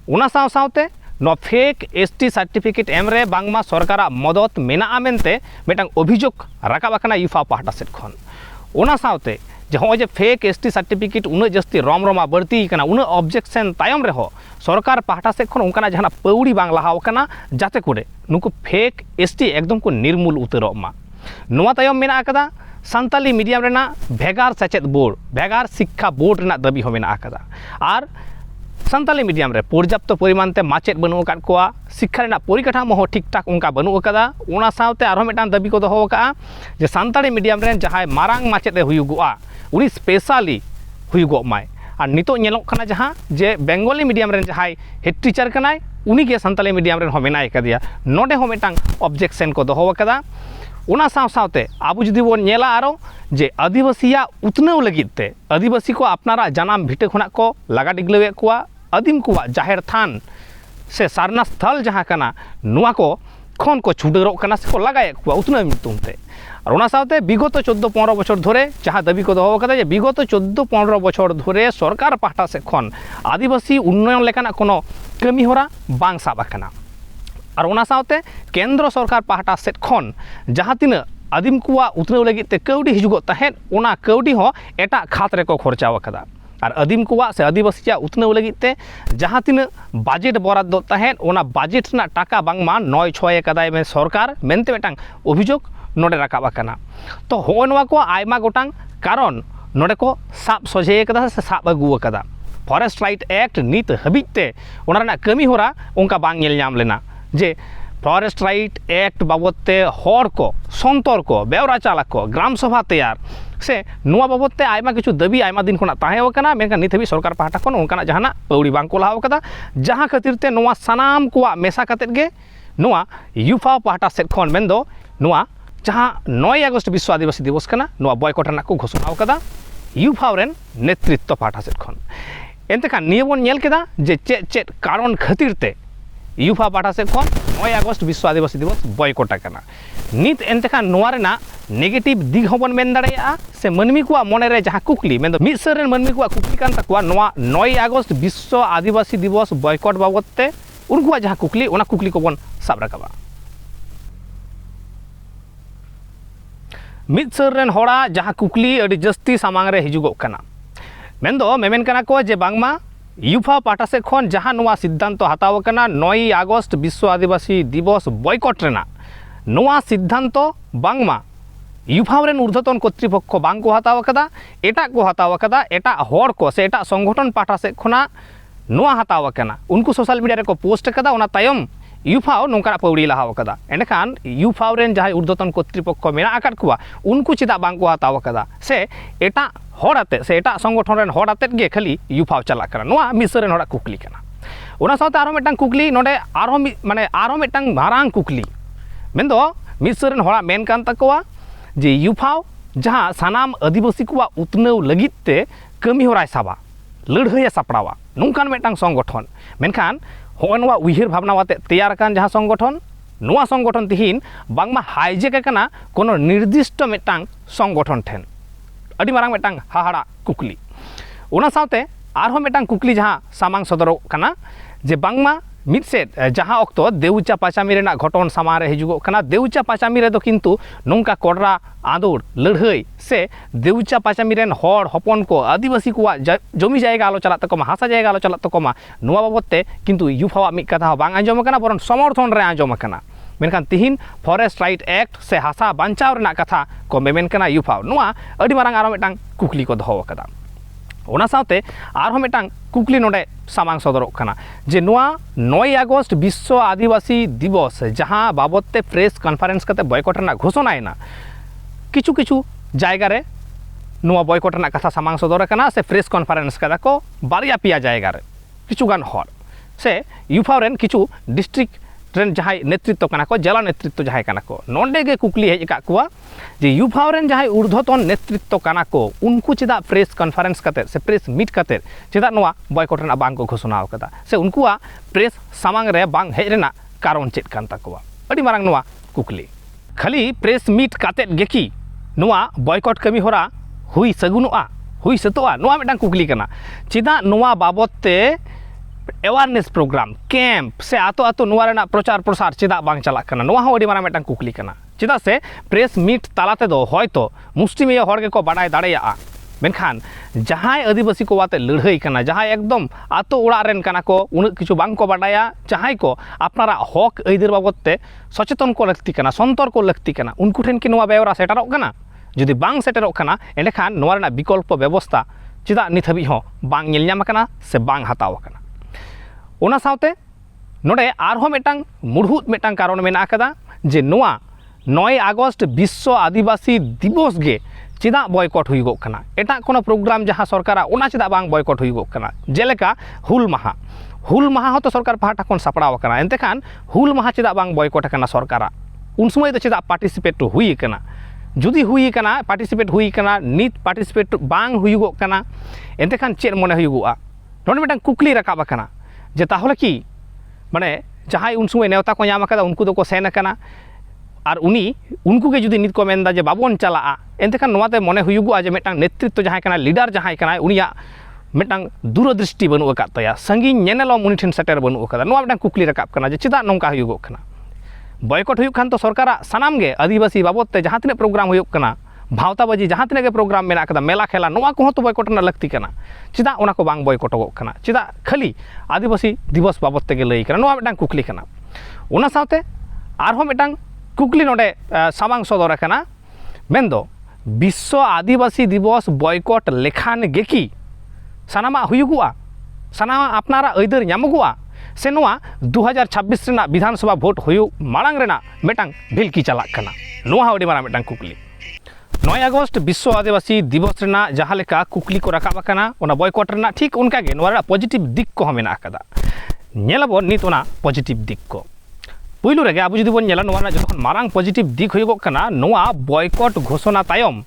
[SPEAKER 1] ᱚᱱᱟ ᱥᱟᱶ ᱥᱟᱶᱛᱮ ᱱᱚᱣᱟ ᱯᱷᱮᱠ ᱮᱥ ᱴᱤ ᱥᱟᱨᱴᱤᱯᱷᱤᱠᱮᱴ ᱮᱢ ᱨᱮ ᱵᱟᱝᱢᱟ ᱥᱚᱨᱠᱟᱨᱟᱜ ᱢᱚᱫᱚᱛ ᱢᱮᱱᱟᱜᱼᱟ ᱢᱮᱱᱛᱮ ᱢᱤᱫᱴᱟᱝ ᱚᱵᱷᱤᱡᱳᱜᱽ ᱨᱟᱠᱟᱵ ᱟᱠᱟᱱᱟ ᱤᱭᱩᱯᱷᱟ ᱯᱟᱦᱴᱟ ᱥᱮᱫ ᱠᱷᱚᱱ ᱚᱱᱟ ᱥᱟᱶᱛᱮ ᱡᱮ ᱦᱚᱸᱜᱼᱚᱭ ᱡᱮ ᱯᱷᱮᱠ ᱮᱥ ᱴᱤ ᱥᱟᱨᱴᱤᱯᱷᱤᱠᱮᱴ ᱩᱱᱟᱹᱜ ᱡᱟᱹᱥᱛᱤ ᱨᱚᱢ ᱨᱚᱢᱟ ᱵᱟᱹᱲᱛᱤ ᱟᱠᱟᱱᱟ ᱩᱱᱟᱹᱜ ᱚᱵᱡᱮᱠᱥᱮᱱ ᱛᱟᱭᱚᱢ ᱨᱮᱦᱚᱸ ᱥᱚᱨᱠᱟᱨ ᱯᱟᱦᱴᱟ ᱥᱮᱫ ᱠᱷᱚᱱ ᱚᱱᱠᱟᱱᱟᱜ ᱡᱟᱦᱟᱱᱟᱜ ᱯᱟᱹᱣᱲᱤ ᱵᱟᱝ ᱞᱟᱦᱟᱣ ᱟᱠᱟᱱᱟ ᱡᱟᱛᱮ ᱠᱚᱨᱮ ᱱᱩᱠᱩ ᱯᱷᱮᱠ ᱮᱥ ᱴᱤ ᱮᱠᱫᱚᱢ ᱠᱚ ᱱᱤᱨᱢᱩᱞ ᱩᱛᱟᱹᱨᱚᱜ ᱢᱟ ᱱᱚᱣᱟ ᱛᱟᱭᱚᱢ ᱢᱮᱱᱟᱜ ᱟᱠᱟᱫᱟ ᱥᱟᱱᱛᱟᱞᱤ ᱢᱤᱰᱤᱭᱟᱢ ᱨᱮᱱᱟᱜ ᱵᱷᱮᱜᱟᱨ ᱥᱮᱪᱮᱫ ᱵᱳᱨᱰ ᱵᱷᱮᱜᱟᱨ ᱥᱤᱠᱠᱷᱟ ᱵᱳᱨᱰ ᱨᱮᱱᱟᱜ ᱫᱟᱹᱵᱤ ᱦᱚᱸ ᱢᱮᱱᱟᱜ ᱟᱠᱟᱫᱟ ᱟᱨ ᱥᱟᱱᱛᱟᱞᱤ ᱢᱤᱰᱤᱭᱟᱢ ᱨᱮ ᱯᱚᱨᱡᱟᱯᱛᱚ ᱯᱚᱨᱤᱢᱟᱱ ᱛᱮ ᱢᱟᱪᱮᱫ ᱵᱟᱹᱱᱩᱜ ᱟᱠᱟᱫ ᱠᱚᱣᱟ ᱥᱤᱠᱠᱷᱟ ᱨᱮᱱᱟᱜ ᱯᱚᱨᱤᱠᱟᱴᱷᱟᱢᱳ ᱦᱚᱸ ᱴᱷᱤᱠ ᱴᱷᱟᱠ ᱚᱱᱠᱟ ᱵᱟᱹᱱᱩᱜ ᱟᱠᱟᱫᱟ ᱚᱱᱟ ᱥᱟᱶᱛᱮ ᱟᱨᱦᱚᱸ ᱢᱤᱫᱴᱟᱱ ᱫᱟᱹᱵᱤ ᱠᱚ ᱫᱚᱦᱚ ᱟᱠᱟᱫᱼᱟ ᱡᱮ ᱥᱟᱱᱛᱟᱲᱤ ᱢᱤᱰᱤᱭᱟᱢ ᱨᱮᱱ ᱡᱟᱦᱟᱸᱭ ᱢᱟᱨᱟᱝ ᱢᱟᱪᱮᱫ ᱮ ᱦᱩᱭᱩᱜᱚᱜᱼᱟ ᱩᱱᱤ ᱥᱯᱮᱥᱟᱞᱤ ᱦᱩᱭᱩᱜᱚᱜ ᱢᱟᱭ ᱟᱨ ᱱᱤᱛᱚᱜ ᱧᱮᱞᱚᱜ ᱠᱟᱱᱟ ᱡᱟᱦᱟᱸ ᱡᱮ ᱵᱮᱝᱜᱚᱞᱤ ᱢᱤᱰᱤᱭᱟᱢ ᱨᱮᱱ ᱡᱟᱦᱟᱸᱭ ᱦᱮᱰ ᱴᱤᱪᱟᱨ ᱠᱟᱱᱟᱭ ᱩᱱᱤᱜᱮ ᱥᱟᱱᱛᱟᱞᱤ ᱢᱤᱰᱤᱭᱟᱢ ᱨᱮᱱ ᱦᱚᱸ ᱢᱮᱱᱟᱭ ᱠᱟᱫᱮᱭᱟ ᱱᱚᱰᱮ ᱦᱚᱸ ᱢᱤᱫᱴᱟᱝ ᱚᱵᱽᱡᱮᱠᱥᱮᱱ ᱠᱚ ᱫᱚᱦᱚ ᱟᱠᱟᱫᱟ ᱚᱱᱟ ᱥᱟᱶ ᱥᱟᱶᱛᱮ ᱟᱵᱚ ᱡᱩᱫᱤ ᱵᱚᱱ ᱧᱮᱞᱟ ᱟᱨᱚ ᱡᱮ ᱟᱹᱫᱤᱵᱟᱹᱥᱤᱭᱟᱜ ᱩᱛᱱᱟᱹᱣ ᱞᱟᱹᱜᱤᱫ ᱛᱮ ᱟᱹᱫᱤᱵᱟᱹᱥᱤ ᱠᱚ ᱟᱯᱱᱟᱨᱟᱜ ᱡᱟᱱᱟᱢ ᱵᱷᱤᱴᱟᱹ ᱠᱷᱚᱱᱟᱜ ᱠᱚ ᱞᱟᱜᱟ ᱰᱤᱜᱽᱞᱟᱹᱣᱮᱫ ᱠᱚᱣᱟ ᱟᱹᱫᱤᱢ ᱠᱚᱣᱟᱜ ᱡᱟᱦᱮᱨ ᱛᱷᱟᱱ ᱥᱮ ᱥᱟᱨᱱᱟ ᱥᱛᱷᱚᱞ ᱡᱟᱦᱟᱸ ᱠᱟᱱᱟ ᱱᱚᱣᱟ ᱠᱚ ᱠᱷᱚᱱ ᱠᱚ ᱪᱷᱩᱰᱟᱹᱨᱚᱜ ᱠᱟᱱᱟ ᱥᱮᱠᱚ ᱞᱟᱜᱟᱭᱮᱫ ᱠᱚᱣᱟ ᱩᱛᱱᱟᱹᱣ ᱧᱩᱛᱩᱢ ᱛᱮ ᱟᱨ ᱚᱱᱟ ᱥᱟᱶᱛᱮ ᱵᱤᱜᱚᱛᱚ ᱪᱳᱫᱽᱫᱳ ᱯᱚᱱᱨᱚ ᱵᱚᱪᱷᱚᱨ ᱫᱷᱚᱨᱮ ᱡᱟᱦᱟᱸ ᱫᱟᱹᱵᱤ ᱠᱚ ᱫᱚᱦᱚ ᱠᱟᱫᱟ ᱡᱮ ᱵᱤᱜᱚᱛᱚ ᱪᱳᱫᱽᱫᱳ ᱯᱚᱱᱨᱚ ᱵᱚᱪᱷᱚᱨ ᱫᱷᱚᱨᱮ ᱥᱚᱨᱠᱟᱨ ᱯᱟᱦᱴᱟ ᱥᱮᱫ ᱠᱷᱚᱱ ᱟᱹᱫᱤᱵᱟᱹᱥᱤ ᱩᱱᱱᱚᱭᱚᱱ ᱞᱮᱠᱟᱱᱟᱜ ᱠᱳᱱᱳ ᱠᱟᱹᱢᱤ ᱦᱚᱨᱟ ᱵᱟᱝ ᱥᱟᱵ ᱟᱠᱟᱱᱟ ᱟᱨ ᱚᱱᱟ ᱥᱟᱶᱛᱮ ᱠᱮᱱᱫᱨᱚ ᱥᱚᱨᱠᱟᱨ ᱯᱟᱦᱴᱟ ᱥᱮᱫ ᱠᱷᱚᱱ ᱡᱟᱦᱟᱸ ᱛᱤᱱᱟᱹᱜ ᱟᱹᱫᱤᱢ ᱠᱚᱣᱟᱜ ᱩᱛᱱᱟᱹᱣ ᱞᱟᱹᱜᱤᱫ ᱛᱮ ᱠᱟᱹᱣᱰᱤ ᱦᱤᱡᱩᱜᱚᱜ ᱛᱟᱦᱮᱸᱫ ᱚᱱᱟ ᱠᱟᱹᱣᱰᱤ ᱦᱚᱸ ᱮᱴᱟᱜ ᱠᱷᱟᱛ ᱨᱮᱠᱚ ᱠᱷᱚᱨᱪᱟ ᱟᱠᱟᱫᱟ ᱟᱨ ᱟᱹᱫᱤᱢ ᱠᱚᱣᱟᱜ ᱥᱮ ᱟᱹᱫᱤᱵᱟᱹᱥᱤᱭᱟᱜ ᱩᱛᱱᱟᱹᱣ ᱞᱟᱹᱜᱤᱫ ᱛᱮ ᱡᱟᱦᱟᱸ ᱛᱤᱱᱟᱹᱜ ᱵᱟᱡᱮᱴ ᱵᱚᱨᱟᱫᱫᱚ ᱛᱟᱦᱮᱸᱫ ᱚᱱᱟ ᱵᱟᱡᱮᱴ ᱨᱮᱱᱟᱜ ᱴᱟᱠᱟ ᱵᱟᱝᱢᱟ ᱱᱚᱭ ᱪᱷᱚᱭ ᱟᱠᱟᱫᱟᱭ ᱥᱚᱨᱠᱟᱨ ᱢᱮᱱᱛᱮ ᱢᱤᱫᱴᱟᱝ ᱚᱵᱷᱤᱡᱳᱜᱽ ᱱᱚᱰᱮ ᱨᱟᱠᱟᱵ ᱟᱠᱟᱱᱟ ᱛᱚ ᱦᱚᱸᱜᱼᱚ ᱱᱚᱣᱟ ᱠᱚ ᱟᱭᱢᱟ ᱜᱚᱴᱟᱝ ᱠᱟᱨᱚᱱ ᱱᱚᱰᱮ ᱠᱚ ᱥᱟᱵ ᱥᱚᱡᱷᱮ ᱟᱠᱟᱫᱟ ᱥᱮ ᱥᱟᱵ ᱟᱹᱜᱩ ᱟᱠᱟᱫᱟ ᱯᱷᱚᱨᱮᱥᱴ ᱨᱟᱭᱤᱴ ᱮᱠᱴ ᱱᱤᱛ ᱦᱟᱹᱵᱤᱡ ᱛᱮ ᱚᱱᱟ ᱨᱮᱱᱟᱜ ᱠᱟᱹᱢᱤ ᱦᱚᱨᱟ ᱚᱱᱠᱟ ᱵᱟᱝ ᱧᱮᱞ ᱧᱟᱢ ᱞᱮᱱᱟ ᱡᱮ ᱯᱷᱚᱨᱮᱥᱴ ᱨᱟᱭᱤᱴ ᱮᱠᱴ ᱵᱟᱵᱚᱫ ᱛᱮ ᱦᱚᱲ ᱠᱚ ᱥᱚᱱᱛᱚᱨ ᱠᱚ ᱵᱮᱣᱨᱟ ᱪᱟᱞ ᱟᱠᱚ ᱜᱨᱟᱢ ᱥᱚᱵᱷᱟ ᱛᱮᱭᱟᱨ ᱥᱮ ᱱᱚᱣᱟ ᱵᱟᱵᱚᱫ ᱛᱮ ᱟᱭᱢᱟ ᱠᱤᱪᱷᱩ ᱫᱟᱹᱵᱤ ᱟᱭᱢᱟ ᱫᱤᱱ ᱠᱷᱚᱱᱟᱜ ᱛᱟᱦᱮᱸ ᱟᱠᱟᱱᱟ ᱢᱮᱱᱠᱷᱟᱱ ᱱᱤᱛ ᱦᱟᱹᱵᱤᱡ ᱥᱚᱨᱠᱟᱨ ᱯᱟᱦᱴᱟ ᱠᱷᱚᱱ ᱚᱱᱠᱟᱱᱟᱜ ᱡᱟᱦᱟᱱᱟᱜ ᱯᱟᱹᱣᱲᱤ ᱵᱟᱝ ᱠᱚ ᱞᱟᱦᱟᱣ ᱠᱟᱫᱟ ᱡᱟᱦᱟᱸ ᱠᱷᱟᱹᱛᱤᱨ ᱛᱮ ᱱᱚᱣᱟ ᱥᱟᱱᱟᱢ ᱠᱚᱣᱟᱜ ᱢᱮᱥᱟ ᱠᱟᱛᱮᱫ ᱜᱮ ᱱᱚᱣᱟ ᱭᱩᱯᱷᱟ ᱯᱟᱦᱴᱟ ᱥᱮᱫ ᱠᱷᱚᱱ ᱢᱮᱱᱫᱚ ᱱᱚᱣᱟ ᱡᱟᱦᱟᱸ ᱱᱚᱭ ᱟᱜᱚᱥᱴ ᱵᱤᱥᱥᱚ ᱟᱹᱫᱤᱵᱟᱹᱥᱤ ᱫᱤᱵᱚᱥ ᱠᱟᱱᱟ ᱱᱚᱣᱟ ᱵᱚᱭᱠᱚᱴ ᱨᱮᱱᱟᱜ ᱠᱚ ᱜᱷᱳᱥᱚᱱᱟ ᱟᱠᱟᱫᱟ ᱭᱩᱯᱷᱟ ᱨᱮᱱ ᱱᱮᱛᱨᱤᱛᱛᱚ ᱯᱟᱦᱴᱟ ᱥᱮᱫ ᱠᱷᱚᱱ ᱮᱱᱛᱮ ᱠᱷᱟᱱ ᱱᱤᱭᱟᱹ ᱵᱚᱱ ᱧᱮᱞ ᱠᱮᱫᱟ ᱡᱮ ᱪᱮᱫ ᱪᱮᱫ ᱠᱟᱨᱚᱱ ᱠᱷᱟᱹᱛᱤᱨ ᱛᱮ ᱤᱭᱩᱯᱷᱟ ᱯᱟᱦᱴᱟ ᱥᱮᱫ ᱠᱷᱚᱱ ᱱᱚᱭ ᱟᱜᱚᱥᱴ ᱵᱤᱥᱥᱚ ᱟᱹᱫᱤᱵᱟᱹᱥᱤ ᱫᱤᱵᱚᱥ ᱵᱚᱭᱠᱚᱴ ᱟᱠᱟᱱᱟ ᱱᱤᱛ ᱮᱱᱛᱮ ᱠᱷᱟᱱ ᱱᱚᱣᱟ ᱨᱮᱱᱟᱜ ᱱᱮᱜᱮᱴᱤᱵᱷ ᱫᱤᱠ ᱦᱚᱸᱵᱚᱱ ᱢᱮᱱ ᱫᱟᱲᱮᱭᱟᱜᱼᱟ ᱥᱮ ᱢᱟᱹᱱᱢᱤ ᱠᱚᱣᱟᱜ ᱢᱚᱱᱮᱨᱮ ᱡᱟᱦᱟᱸ ᱠᱩᱠᱞᱤ ᱢᱮᱱᱫᱚ ᱢᱤᱫ ᱥᱮᱫ ᱨᱮᱱ ᱢᱟᱹᱱᱢᱤ ᱠᱚᱣᱟᱜ ᱠᱩᱠᱞᱤ ᱠᱟᱱ ᱛᱟᱠᱚᱣᱟ ᱱᱚᱣᱟ ᱱᱚᱭ ᱟᱜᱚᱥᱴ ᱵᱤᱥᱥᱚ ᱟᱹᱫᱤᱵᱟᱹᱥᱤ ᱫᱤᱵᱚᱥ ᱵᱚᱭᱠᱚᱴ ᱵᱟᱵᱚᱫ ᱛᱮ ᱩᱱᱠᱩᱣᱟᱜ ᱡᱟᱦᱟᱸ ᱠᱩᱠᱞᱤ ᱚᱱᱟ ᱠᱩᱠᱞᱤ ᱠᱚᱵᱚᱱ ᱥᱟᱵ ᱨᱟᱠᱟᱵᱟ ᱢᱤᱫ ᱥᱟᱹᱨ ᱨᱮᱱ ᱦᱚᱲᱟᱜ ᱡᱟᱦᱟᱸ ᱠᱩᱠᱞᱤ ᱟᱹᱰᱤ ᱡᱟᱹᱥᱛᱤ ᱥᱟᱢᱟᱝ ᱨᱮ ᱦᱤᱡᱩᱜᱚᱜ ᱠᱟᱱᱟ ᱢᱮᱱᱫᱚ ᱢᱮᱢᱮᱱ ᱠᱟᱱᱟ ᱠᱚ ᱡᱮ ᱵᱟᱝᱢᱟ ᱤᱭᱩᱯᱷᱟ ᱯᱟᱦᱴᱟ ᱥᱮᱫ ᱠᱷᱚᱱ ᱡᱟᱦᱟᱸ ᱱᱚᱣᱟ ᱥᱤᱫᱽᱫᱷᱟᱱᱛᱚ ᱦᱟᱛᱟᱣ ᱟᱠᱟᱱᱟ ᱱᱚᱭ ᱟᱜᱚᱥᱴ ᱵᱤᱥᱥᱚ ᱟᱹᱫᱤᱵᱟᱹᱥᱤ ᱫᱤᱵᱚᱥ ᱵᱚᱭᱠᱚᱴ ᱨᱮᱱᱟᱜ ᱱᱚᱣᱟ ᱥᱤᱫᱽᱫᱷᱟᱱᱛᱚ ᱵᱟᱝᱢᱟ ᱤᱭᱩᱯᱷᱟ ᱨᱮᱱ ᱩᱨᱫᱷᱚᱛᱚᱱ ᱠᱚᱛᱨᱤᱯᱚᱠᱠᱷᱚ ᱵᱟᱝ ᱠᱚ ᱦᱟᱛᱟᱣ ᱟᱠᱟᱫᱟ ᱮᱴᱟᱜ ᱠᱚ ᱦᱟᱛᱟᱣ ᱟᱠᱟᱫᱟ ᱮᱴᱟᱜ ᱦᱚᱲ ᱠᱚ ᱥᱮ ᱮᱴᱟᱜ ᱥᱚᱝᱜᱚᱴᱷᱚᱱ ᱯᱟᱦᱴᱟ ᱥᱮᱫ ᱠᱷᱚᱱᱟᱜ ᱱᱚᱣᱟ ᱦᱟᱛᱟᱣ ᱟᱠᱟᱱᱟ ᱩᱱᱠᱩ ᱥᱳᱥᱟᱞ ᱢᱤᱰᱤᱭᱟ ᱨᱮᱠᱚ ᱯᱳᱥᱴ ᱟᱠᱟᱫᱟ ᱚᱱᱟ ᱛᱟᱭᱚᱢ ᱭᱩᱯᱷᱟᱣ ᱱᱚᱝᱠᱟᱱᱟᱜ ᱯᱟᱹᱣᱲᱤ ᱞᱟᱦᱟᱣ ᱟᱠᱟᱫᱟ ᱮᱸᱰᱮᱠᱷᱟᱱ ᱭᱩᱯᱷᱟᱣ ᱨᱮᱱ ᱡᱟᱦᱟᱸᱭ ᱩᱨᱫᱷᱚᱛᱚᱱ ᱠᱚᱨᱛᱨᱤᱯᱚᱠᱠᱷᱚ ᱢᱮᱱᱟᱜ ᱟᱠᱟᱫ ᱠᱚᱣᱟ ᱩᱱᱠᱩ ᱪᱮᱫᱟᱜ ᱵᱟᱝ ᱠᱚ ᱦᱟᱛᱟᱣ ᱟᱠᱟᱫᱟ ᱥᱮ ᱮᱴᱟᱜ ᱦᱚᱲ ᱟᱛᱮ ᱥᱮ ᱮᱴᱟᱜ ᱥᱚᱝᱜᱚᱴᱷᱚᱱ ᱨᱮᱱ ᱦᱚᱲ ᱟᱛᱮ ᱜᱮ ᱠᱷᱟᱹᱞᱤ ᱭᱩᱯᱷᱟᱣ ᱪᱟᱞᱟᱜ ᱠᱟᱱᱟ ᱱᱚᱣᱟ ᱢᱤᱥᱨᱚ ᱨᱮᱱ ᱦᱚᱲᱟᱜ ᱠᱩᱠᱞᱤ ᱠᱟᱱᱟ ᱚᱱᱟ ᱥᱟᱶᱛᱮ ᱟᱨᱦᱚᱸ ᱢᱤᱫᱴᱟᱝ ᱠᱩᱠᱞᱤ ᱱᱚᱰᱮ ᱟᱨᱦᱚᱸ ᱢᱤᱫ ᱢᱟᱱᱮ ᱟᱨᱦᱚᱸ ᱢᱤᱫᱴᱟᱝ ᱢᱟᱨᱟᱝ ᱠᱩᱠᱞᱤ ᱢᱮᱱᱫᱚ ᱢᱤᱥᱨᱚ ᱨᱮᱱ ᱦᱚᱲᱟᱜ ᱢᱮᱱ ᱠᱟᱱ ᱛᱟᱠᱚᱣᱟ ᱡᱮ ᱭᱩᱯᱷᱟᱣ ᱡᱟᱦᱟᱸ ᱥᱟᱱᱟᱢ ᱟᱹᱫᱤᱵᱟᱹᱥᱤ ᱠᱚᱣᱟᱜ ᱩᱛᱱᱟᱹᱣ ᱞᱟᱹᱜᱤᱫ ᱛᱮ ᱠᱟᱹᱢᱤ ᱦᱚᱨᱟᱭ ᱥᱟᱵᱟ ᱞᱟᱹᱲᱦᱟᱹᱭᱮ ᱥᱟᱯᱲᱟᱣᱟ ᱱᱚᱝᱠᱟᱱ ᱢᱤᱫᱴᱟᱝ ᱥᱚᱝᱜᱚᱴᱷᱚᱱ ᱢᱮᱱᱠᱷᱟᱱ ᱦᱚᱸᱜᱼᱚ ᱱᱚᱣᱟ ᱩᱭᱦᱟᱹᱨ ᱵᱷᱟᱵᱽᱱᱟ ᱟᱛᱮ ᱛᱮᱭᱟᱨ ᱟᱠᱟᱱ ᱡᱟᱦᱟᱸ ᱥᱚᱝᱜᱚᱴᱷᱚᱱ ᱱᱚᱣᱟ ᱥᱚᱝᱜᱚᱴᱷᱚᱱ ᱛᱤᱦᱤᱧ ᱵᱟᱝᱢᱟ ᱦᱟᱭᱡᱮᱠ ᱟᱠᱟᱱᱟ ᱠᱳᱱᱳ ᱱᱤᱨᱫᱤᱥᱴᱚ ᱢᱤᱫᱴᱟᱝ ᱥᱚᱝᱜᱚᱴᱷᱚᱱ ᱴᱷᱮᱱ ᱟᱹᱰᱤ ᱢᱟᱨᱟᱝ ᱢᱤᱫᱴᱟᱝ ᱦᱟᱦᱟᱲᱟᱜ ᱠᱩᱠᱞᱤ ᱚᱱᱟ ᱥᱟᱶᱛᱮ ᱟᱨᱦᱚᱸ ᱢᱤᱫᱴᱟᱝ ᱠᱩᱠᱞᱤ ᱡᱟᱦᱟᱸ ᱥᱟᱢᱟᱝ ᱥᱚᱫᱚᱨᱚᱜ ᱠᱟᱱᱟ ᱡᱮ ᱵᱟᱝᱢᱟ ᱢᱤᱫ ᱥᱮᱫ ᱡᱟᱦᱟᱸ ᱚᱠᱛᱚ ᱫᱮᱣᱪᱟ ᱯᱟᱪᱟᱢᱤ ᱨᱮᱱᱟᱜ ᱜᱷᱚᱴᱚᱱ ᱥᱟᱢᱟᱝ ᱨᱮ ᱦᱤᱡᱩᱜᱚᱜ ᱠᱟᱱᱟ ᱫᱮᱣᱪᱟ ᱯᱟᱪᱟᱢᱤ ᱨᱮᱫᱚ ᱠᱤᱱᱛᱩ ᱱᱚᱝᱠᱟ ᱠᱚᱰᱨᱟ ᱟᱸᱫᱳᱲ ᱞᱟᱹᱲᱦᱟᱹᱭ ᱥᱮ ᱫᱮᱣᱪᱟ ᱯᱟᱪᱟᱢᱤ ᱨᱮᱱ ᱦᱚᱲ ᱦᱚᱯᱚᱱ ᱠᱚ ᱟᱹᱫᱤᱵᱟᱹᱥᱤ ᱠᱚᱣᱟᱜ ᱡᱚᱢᱤ ᱡᱟᱭᱜᱟ ᱟᱞᱚ ᱪᱟᱞᱟᱜ ᱛᱟᱠᱚ ᱢᱟ ᱦᱟᱥᱟ ᱡᱟᱭᱜᱟ ᱟᱞᱚ ᱪᱟᱞᱟᱜ ᱛᱟᱠᱚ ᱢᱟ ᱱᱚᱣᱟ ᱵᱟᱵᱚᱫ ᱛᱮ ᱠᱤᱱᱛᱩ ᱭᱩᱯᱷᱟᱣᱟᱜ ᱢᱤᱫ ᱠᱟᱛᱷᱟ ᱦᱚᱸ ᱵᱟᱝ ᱟᱸᱡᱚᱢ ᱟᱠᱟᱱᱟ ᱵᱚᱨᱚᱱ ᱥᱚᱢᱚᱨᱛᱷᱚᱱ ᱨᱮ ᱟᱸᱡᱚᱢ ᱟᱠᱟᱱᱟ ᱢᱮᱱᱠᱷᱟᱱ ᱛᱤᱦᱤᱧ ᱯᱷᱚᱨᱮᱥᱴ ᱨᱟᱭᱤᱴ ᱮᱠᱴ ᱥᱮ ᱦᱟᱥᱟ ᱵᱟᱧᱪᱟᱣ ᱨᱮᱱᱟᱜ ᱠᱟᱛᱷᱟ ᱠᱚ ᱢᱮᱢᱮᱱ ᱠᱟᱱᱟ ᱭᱩᱯᱷᱟᱣ ᱱᱚᱣᱟ ᱟᱹᱰᱤ ᱢᱟᱨᱟᱝ ᱟᱨᱚ ᱢᱤᱫᱴᱟᱝ ᱠᱩᱠᱞᱤ ᱠᱚ ᱫᱚᱦᱚ ᱟᱠᱟᱫᱟ ᱚᱱᱟ ᱥᱟᱶᱛᱮ ᱟᱨᱦᱚᱸ ᱢᱤᱫᱴᱟᱝ ᱠᱩᱠᱞᱤ ᱱᱚᱰᱮ ᱥᱟᱢᱟᱝ ᱥᱚᱫᱚᱨᱚᱜ ᱠᱟᱱᱟ ᱡᱮ ᱱᱚᱣᱟ ᱱᱚᱭ ᱟᱜᱚᱥᱴ ᱵᱤᱥᱥᱚ ᱟᱹᱫᱤᱵᱟᱹᱥᱤ ᱫᱤᱵᱚᱥ ᱡᱟᱦᱟᱸ ᱵᱟᱵᱚᱫ ᱛᱮ ᱯᱨᱮᱥ ᱠᱚᱱᱯᱷᱟᱨᱮᱱᱥ ᱠᱟᱛᱮ ᱵᱚᱭᱠᱚᱴ ᱨᱮᱱᱟᱜ ᱜᱷᱳᱥᱚᱱᱟᱭᱮᱱᱟ ᱠᱤᱪᱷᱩ ᱠᱤᱪᱷᱩ ᱡᱟᱭᱜᱟ ᱨᱮ ᱱᱚᱣᱟ ᱵᱚᱭᱠᱚᱴ ᱨᱮᱱᱟᱜ ᱠᱟᱛᱷᱟ ᱥᱟᱢᱟᱝ ᱥᱚᱫᱚᱨ ᱟᱠᱟᱱᱟ ᱥᱮ ᱯᱨᱮᱥ ᱠᱚᱱᱯᱷᱟᱨᱮᱱᱥ ᱠᱟᱫᱟ ᱠᱚ ᱵᱟᱨᱭᱟ ᱯᱮᱭᱟ ᱡᱟᱭᱜᱟ ᱨᱮ ᱠᱤᱪᱷᱩ ᱜᱟᱱ ᱦᱚᱲ ᱥᱮ ᱭᱩᱯᱷᱟᱣ ᱨᱮᱱ ᱠᱤᱪᱷᱩ ᱰᱤᱥᱴᱨᱤᱠ ᱨᱮᱱ ᱡᱟᱦᱟᱸᱭ ᱱᱮᱛᱨᱤᱛᱛᱚ ᱠᱟᱱᱟ ᱠᱚ ᱡᱮᱞᱟ ᱱᱮᱛᱨᱤᱛᱛᱚ ᱡᱟᱦᱟᱸᱭ ᱠᱟᱱᱟ ᱠᱚ ᱱᱚᱰᱮ ᱜᱮ ᱠᱩᱠᱞᱤ ᱦᱮᱡ ᱟᱠᱟᱫ ᱠᱚᱣᱟ ᱡᱮ ᱭᱩᱯᱷᱟᱣ ᱨᱮᱱ ᱡᱟᱦᱟᱸᱭ ᱩᱨᱫᱷᱚᱛᱚᱱ ᱱᱮᱛᱨᱤᱛᱛᱚ ᱠᱟᱱᱟ ᱠᱚ ᱩᱱᱠᱩ ᱪᱮᱫᱟᱜ ᱯᱨᱮᱥ ᱠᱚᱱᱯᱷᱟᱨᱮᱱᱥ ᱠᱟᱛᱮ ᱥᱮ ᱯᱨᱮᱥ ᱢᱤᱴ ᱠᱟᱛᱮ ᱪᱮᱫᱟᱜ ᱱᱚᱣᱟ ᱵᱚᱭᱠᱚᱴ ᱨᱮᱱᱟᱜ ᱵᱟᱝ ᱠᱚ ᱜᱷᱳᱥᱚᱱᱟ ᱟᱠᱟᱫᱟ ᱥᱮ ᱩᱱᱠᱩᱣᱟᱜ ᱯᱨᱮᱥ ᱥᱟᱢᱟᱝ ᱨᱮ ᱵᱟᱝ ᱦᱮᱡ ᱨᱮᱱᱟᱜ ᱠᱟᱨᱚᱱ ᱪᱮᱫ ᱠᱟᱱ ᱛᱟᱠᱚᱣᱟ ᱟᱹᱰᱤ ᱢᱟᱨᱟᱝ ᱱᱚᱣᱟ ᱠᱩᱠᱞᱤ᱾ ᱠᱷᱟᱹᱞᱤ ᱯᱨᱮᱥ ᱢᱤᱴ ᱠᱟᱛᱮ ᱜᱮ ᱠᱤ ᱱᱚᱣᱟ ᱵᱚᱭᱠᱚᱴ ᱠᱟᱹᱢᱤ ᱦᱚᱨᱟ ᱦᱩᱭ ᱥᱟᱹᱜᱩᱱᱚᱜᱼᱟ, ᱦᱩᱭ ᱥᱟᱹᱛᱚᱜᱼᱟ? ᱱᱚᱣᱟ ᱢᱤᱫᱴᱟᱝ ᱠᱩᱠᱞᱤ ᱠᱟᱱᱟ᱾ ᱪᱮᱫᱟᱜ ᱱᱚᱣᱟ ᱵᱟᱵᱚᱛ ᱛᱮ ᱮᱣᱟᱨᱱᱮᱥ ᱯᱨᱳᱜᱨᱟᱢ, ᱠᱮᱢᱯ ᱥᱮ ᱟᱛᱳ ᱟᱛᱳ ᱱᱚᱣᱟ ᱨᱮᱱᱟᱜ ᱯᱨᱚᱪᱟᱨ ᱯᱨᱚᱥᱟᱨ ᱪᱮᱫᱟᱜ ᱵᱟᱝ ᱪᱟᱞᱟᱜ ᱠᱟᱱᱟ? ᱱᱚᱣᱟ ᱦᱚᱸ ᱟᱹᱰᱤ ᱢᱟᱨᱟᱝ ᱢᱤᱫᱴᱟᱝ ᱠᱩᱠᱞᱤ ᱠᱟᱱᱟ᱾ ᱪᱮᱫᱟᱜ ᱥᱮ ᱯᱨᱮᱥ ᱢᱤᱴ ᱛᱟᱞᱟ ᱛᱮᱫᱚ ᱦᱚᱭᱛᱚ ᱢᱩᱥᱴᱤᱢᱮᱭᱚ ᱦᱚᱲ ᱜᱮᱠᱚ ᱵᱟᱰᱟᱭ ᱫᱟᱲᱮᱭᱟᱜᱼᱟ᱾ ᱢᱮᱱᱠᱷᱟᱱ ᱡᱟᱦᱟᱸᱭ ᱟᱹᱫᱤᱵᱟᱹᱥᱤ ᱠᱚ ᱟᱛᱮ ᱞᱟᱹᱲᱦᱟᱹᱭ ᱠᱟᱱᱟ, ᱡᱟᱦᱟᱸᱭ ᱮᱠᱫᱚᱢ ᱟᱛᱳ ᱚᱲᱟᱜ ᱨᱮᱱ ᱠᱟᱱᱟ ᱠᱚ, ᱩᱱᱟᱹᱜ ᱠᱤᱪᱷᱩ ᱵᱟᱝ ᱠᱚ ᱵᱟᱰᱟᱭᱟ᱾ ᱡᱟᱦᱟᱸᱭ ᱠᱚ ᱟᱯᱱᱟᱨᱟᱜ ᱦᱚᱠ ᱟᱹᱭᱫᱟᱹᱨ ᱵᱟᱵᱚᱛ ᱛᱮ ᱥᱚᱪᱮᱛᱚᱱ ᱠᱚ ᱞᱟᱹᱠᱛᱤ ᱠᱟᱱᱟ ᱥᱚᱱᱛᱚᱨ ᱠᱚ ᱞᱟᱹᱠᱛᱤ ᱠᱟᱱᱟ ᱩᱱᱠᱩ ᱴᱷᱮᱱ ᱠᱤ ᱱᱚᱣᱟ ᱵᱮᱣᱨᱟ ᱥᱮᱴᱮᱨᱚᱜ ᱠᱟᱱᱟ ᱡᱩᱫᱤ ᱵᱟᱝ ᱥᱮᱴᱮᱨᱚᱜ ᱠᱟᱱᱟ ᱮᱸᱰᱮᱠᱷᱟᱱ ᱱᱚᱣᱟ ᱨᱮᱱᱟᱜ ᱵᱤᱠᱚᱞᱯᱚ ᱵᱮᱵᱚᱥᱛᱟ ᱪᱮᱫᱟᱜ ᱱᱤᱛ ᱦᱟᱹᱵᱤᱡ ᱦᱚᱸ ᱵᱟᱝ ᱧᱮᱞ ᱧᱟᱢ ᱟᱠᱟᱱᱟ ᱥᱮ ᱵᱟᱝ ᱦᱟᱛᱟᱣ ᱟᱠᱟᱱᱟ ᱚᱱᱟ ᱥᱟᱶᱛᱮ ᱱᱚᱰᱮ ᱟᱨᱦᱚᱸ ᱢᱤᱫᱴᱟᱝ ᱢᱩᱲᱦᱩᱫ ᱢᱤᱫᱴᱟᱝ ᱠᱟᱨᱚᱱ ᱢᱮᱱᱟᱜ ᱟᱠᱟᱫᱟ ᱡᱮ ᱱᱚᱣᱟ ᱱᱚᱭ ᱟᱜᱚᱥᱴ ᱵᱤᱥᱥᱚ ᱟᱹᱫᱤᱵᱟᱹᱥᱤ ᱫᱤᱵᱚᱥ ᱜᱮ ᱪᱮᱫᱟᱜ ᱵᱚᱭᱠᱚᱴ ᱦᱩᱭᱩᱜᱚᱜ ᱠᱟᱱᱟ ᱮᱴᱟᱜ ᱠᱳᱱᱳ ᱯᱨᱳᱜᱨᱟᱢ ᱡᱟᱦᱟᱸ ᱥᱚᱨᱠᱟᱨᱟᱜ ᱚᱱᱟ ᱪᱮᱫᱟᱜ ᱵᱟᱝ ᱵᱚᱭᱠᱚᱴ ᱦᱩᱭᱩᱜᱚᱜ ᱠᱟᱱᱟ ᱡᱮᱞᱮᱠᱟ ᱦᱩᱞ ᱢᱟᱦᱟ ᱦᱩᱞ ᱢᱟᱦᱟ ᱦᱚᱸᱛᱚ ᱥᱚᱨᱠᱟᱨ ᱯᱟᱦᱴᱟ ᱠᱷᱚᱱ ᱥᱟᱯᱲᱟᱣ ᱟᱠᱟᱱᱟ ᱮᱱᱛᱮ ᱠᱷᱟᱱ ᱦᱩᱞ ᱢᱟᱦᱟ ᱪᱮᱫᱟᱜ ᱵᱟᱝ ᱵᱚᱭᱠᱚᱴ ᱟᱠᱟᱱᱟ ᱥᱚᱨᱠᱟᱨᱟᱜ ᱩᱱ ᱥᱚᱢᱚᱭ ᱫᱚ ᱪᱮᱫᱟᱜ ᱯᱟᱨᱴᱤᱥᱤᱯᱮᱴ ᱦᱩᱭ ᱟᱠᱟᱱᱟ ᱡᱩᱫᱤ ᱦᱩᱭ ᱟᱠᱟᱱᱟ ᱯᱟᱨᱴᱤᱥᱤᱯᱮᱴ ᱦᱩᱭ ᱟᱠᱟᱱᱟ ᱱᱤᱛ ᱯᱟᱨᱴᱤᱥᱤᱯᱮᱴ ᱵᱟᱝ ᱦᱩᱭᱩᱜᱚᱜ ᱠᱟᱱᱟ ᱮᱱᱛᱮ ᱠᱷᱟᱱ ᱪᱮᱫ ᱢᱚᱱᱮ ᱦᱩᱭᱩᱜᱚᱜᱼᱟ ᱱᱚᱰᱮ ᱢᱤᱫᱴᱟᱝ ᱠᱩᱠᱞᱤ ᱨᱟᱠᱟᱵ ᱟᱠᱟᱱᱟ ᱡᱮ ᱛᱟᱦᱚᱞᱮ ᱠᱤ ᱢᱟᱱᱮ ᱡᱟᱦᱟᱸᱭ ᱩᱱ ᱥᱚᱢᱚᱭ ᱱᱮᱣᱛᱟ ᱠᱚ ᱧᱟᱢ ᱟᱠᱟᱫᱟ ᱩᱱᱠᱩ ᱫᱚᱠᱚ ᱥᱮᱱ ᱟᱠᱟᱱᱟ ᱟᱨ ᱩᱱᱤ ᱩᱱᱠᱩ ᱜᱮ ᱡᱩᱫᱤ ᱱᱤᱛ ᱠᱚ ᱢᱮᱱᱫᱟ ᱡᱮ ᱵᱟᱵᱚᱱ ᱪᱟᱞᱟᱜᱼᱟ ᱮᱱᱛᱮ ᱠᱷᱟᱱ ᱱᱚᱣᱟ ᱛᱮ ᱢᱚᱱᱮ ᱦᱩᱭᱩᱜᱚᱜᱼᱟ ᱡᱮ ᱢᱤᱫᱴᱟᱝ ᱱᱮᱛᱨᱤᱛᱛᱚ ᱡᱟᱦᱟᱸᱭ ᱠᱟᱱᱟᱭ ᱞᱤᱰᱟᱨ ᱡᱟᱦᱟᱸᱭ ᱠᱟᱱᱟᱭ ᱩᱱᱤᱭᱟᱜ ᱢᱤᱫᱴᱟᱝ ᱫᱩᱨᱚᱫᱨᱤᱥᱴᱤ ᱵᱟᱹᱱᱩᱜ ᱟᱠᱟᱫ ᱛᱟᱭᱟ ᱥᱟᱺᱜᱤᱧ ᱧᱮᱱᱮᱞᱚᱢ ᱩᱱᱤ ᱴᱷᱮᱱ ᱥᱮᱴᱮᱨ ᱵᱟᱹᱱᱩᱜ ᱟᱠᱟᱫᱟ ᱱᱚᱣᱟ ᱢᱤᱫᱴᱟᱝ ᱠᱩᱠᱞᱤ ᱨᱟᱠᱟᱵ ᱠᱟᱱᱟ ᱡᱮ ᱪᱮᱫᱟᱜ ᱱᱚᱝᱠᱟ ᱦᱩᱭᱩᱜᱚᱜ ᱠᱟᱱᱟ ᱵᱚᱭᱠᱚᱴ ᱦᱩᱭᱩᱜ ᱠᱷᱟᱱ ᱫᱚ ᱥᱚᱨᱠᱟᱨᱟᱜ ᱥᱟᱱᱟᱢ ᱜᱮ ᱟᱹᱫᱤᱵᱟᱹᱥᱤ ᱵᱟᱵᱚᱫ ᱛᱮ ᱡᱟᱦᱟᱸ ᱛᱤᱱᱟᱹᱜ ᱯᱨᱳᱜᱨᱟᱢ ᱦᱩᱭᱩᱜ ᱠᱟᱱᱟ ᱵᱷᱟᱶᱛᱟ ᱵᱟᱹᱡᱤ ᱡᱟᱦᱟᱸ ᱛᱤᱱᱟᱹᱜ ᱜᱮ ᱯᱨᱳᱜᱨᱟᱢ ᱢᱮᱱᱟᱜ ᱟᱠᱟᱫᱟ ᱢᱮᱞᱟ ᱠᱷᱮᱞᱟ ᱱᱚᱣᱟ ᱠᱚᱦᱚᱸ ᱛᱚ ᱵᱚᱭᱠᱚᱴ ᱨᱮᱱᱟᱜ ᱞᱟᱹᱠᱛᱤ ᱠᱟᱱᱟ ᱪᱮᱫᱟᱜ ᱚᱱᱟ ᱠᱚ ᱵᱟᱝ ᱵᱚᱭᱠᱚᱴᱚᱜᱚᱜ ᱠᱟᱱᱟ ᱪᱮᱫᱟᱜ ᱠᱷᱟᱹᱞᱤ ᱟᱹᱫᱤᱵᱟᱹᱥᱤ ᱫᱤᱵᱚᱥ ᱵᱟᱵᱚᱫ ᱛᱮᱜᱮ ᱞᱟᱹᱭ ᱠᱟᱱᱟ ᱱᱚᱣᱟ ᱢᱤᱫᱴᱟᱝ ᱠᱩᱠᱞᱤ ᱠᱟᱱᱟ ᱚᱱᱟ ᱥᱟᱶᱛᱮ ᱟᱨᱦᱚᱸ ᱢᱤᱫᱴᱟᱝ ᱠᱩᱠᱞᱤ ᱱᱚᱰᱮ ᱥᱟᱢᱟᱝ ᱥᱚᱫᱚᱨ ᱟᱠᱟᱱᱟ ᱢᱮᱱᱫᱚ ᱵᱤᱥᱥᱚ ᱟᱹᱫᱤᱵᱟᱹᱥᱤ ᱫᱤᱵᱚᱥ ᱵᱚᱭᱠᱚᱴ ᱞᱮᱠᱷᱟᱱ ᱜᱮᱠᱤ ᱥᱟᱱᱟᱢᱟᱜ ᱦᱩᱭᱩᱜᱚᱜᱼᱟ ᱥᱟᱱᱟᱢᱟᱜ ᱟᱯᱱᱟᱨᱟᱜ ᱟᱹᱭᱫᱟᱹᱨ ᱧᱟᱢᱚᱜᱚᱜᱼᱟ ᱥᱮ ᱱᱚᱣᱟ ᱫᱩ ᱦᱟᱡᱟᱨ ᱪᱷᱟᱵᱵᱤᱥ ᱨᱮᱱᱟᱜ ᱵᱤᱫᱷᱟᱱ ᱥᱚᱵᱷᱟ ᱵᱷᱳᱴ ᱦᱩᱭᱩᱜ ᱢᱟᱲᱟᱝ ᱨᱮᱱᱟᱜ ᱢᱤᱫᱴᱟᱝ ᱵᱷᱤᱞᱠᱤ ᱪᱟᱞᱟᱜ ᱠᱟᱱᱟ ᱱᱚᱣᱟ ᱦᱚᱸ ᱟᱹᱰᱤ ᱢᱟᱨᱟᱝ ᱢᱤᱫᱴᱟᱝ ᱠᱩᱠᱞᱤ ᱱᱚᱭ ᱟᱜᱚᱥᱴ ᱵᱤᱥᱥᱚ ᱟᱹᱫᱤᱵᱟᱹᱥᱤ ᱫᱤᱵᱚᱥ ᱨᱮᱱᱟᱜ ᱡᱟᱦᱟᱸ ᱞᱮᱠᱟ ᱠᱩᱠᱞᱤ ᱠᱚ ᱨᱟᱠᱟᱵ ᱟᱠᱟᱱᱟ ᱚᱱᱟ ᱵᱚᱭᱠᱚᱴ ᱨᱮᱱᱟᱜ ᱴᱷᱤᱠ ᱚᱱᱠᱟᱜᱮ ᱱᱚᱣᱟ ᱨᱮᱱᱟᱜ ᱯᱚᱡᱤᱴᱤᱵᱷ ᱫᱤᱠ ᱠᱚᱦᱚᱸ ᱢᱮᱱᱟᱜ ᱟᱠᱟᱫᱟ ᱧᱮᱞᱟᱵᱚᱱ ᱱᱤᱛ ᱚᱱᱟ ᱯᱚᱡᱤᱴᱤᱵᱷ ᱫᱤᱠ ᱠᱚ ᱯᱩᱭᱞᱩ ᱨᱮᱜᱮ ᱟᱵᱚ ᱡᱩᱫᱤ ᱵᱚᱱ ᱧᱮᱞᱟ ᱱᱚᱣᱟ ᱨᱮᱱᱟᱜ ᱡᱚᱛᱚ ᱠᱷᱚᱱ ᱢᱟᱨᱟᱝ ᱯᱚᱡᱤᱴᱤᱵᱷ ᱫᱤᱠ ᱦᱩᱭᱩᱜᱚᱜ ᱠᱟᱱᱟ ᱱᱚᱣᱟ ᱵᱚᱭᱠᱚᱴ ᱜᱷᱳᱥᱚᱱᱟ ᱛᱟᱭᱚᱢ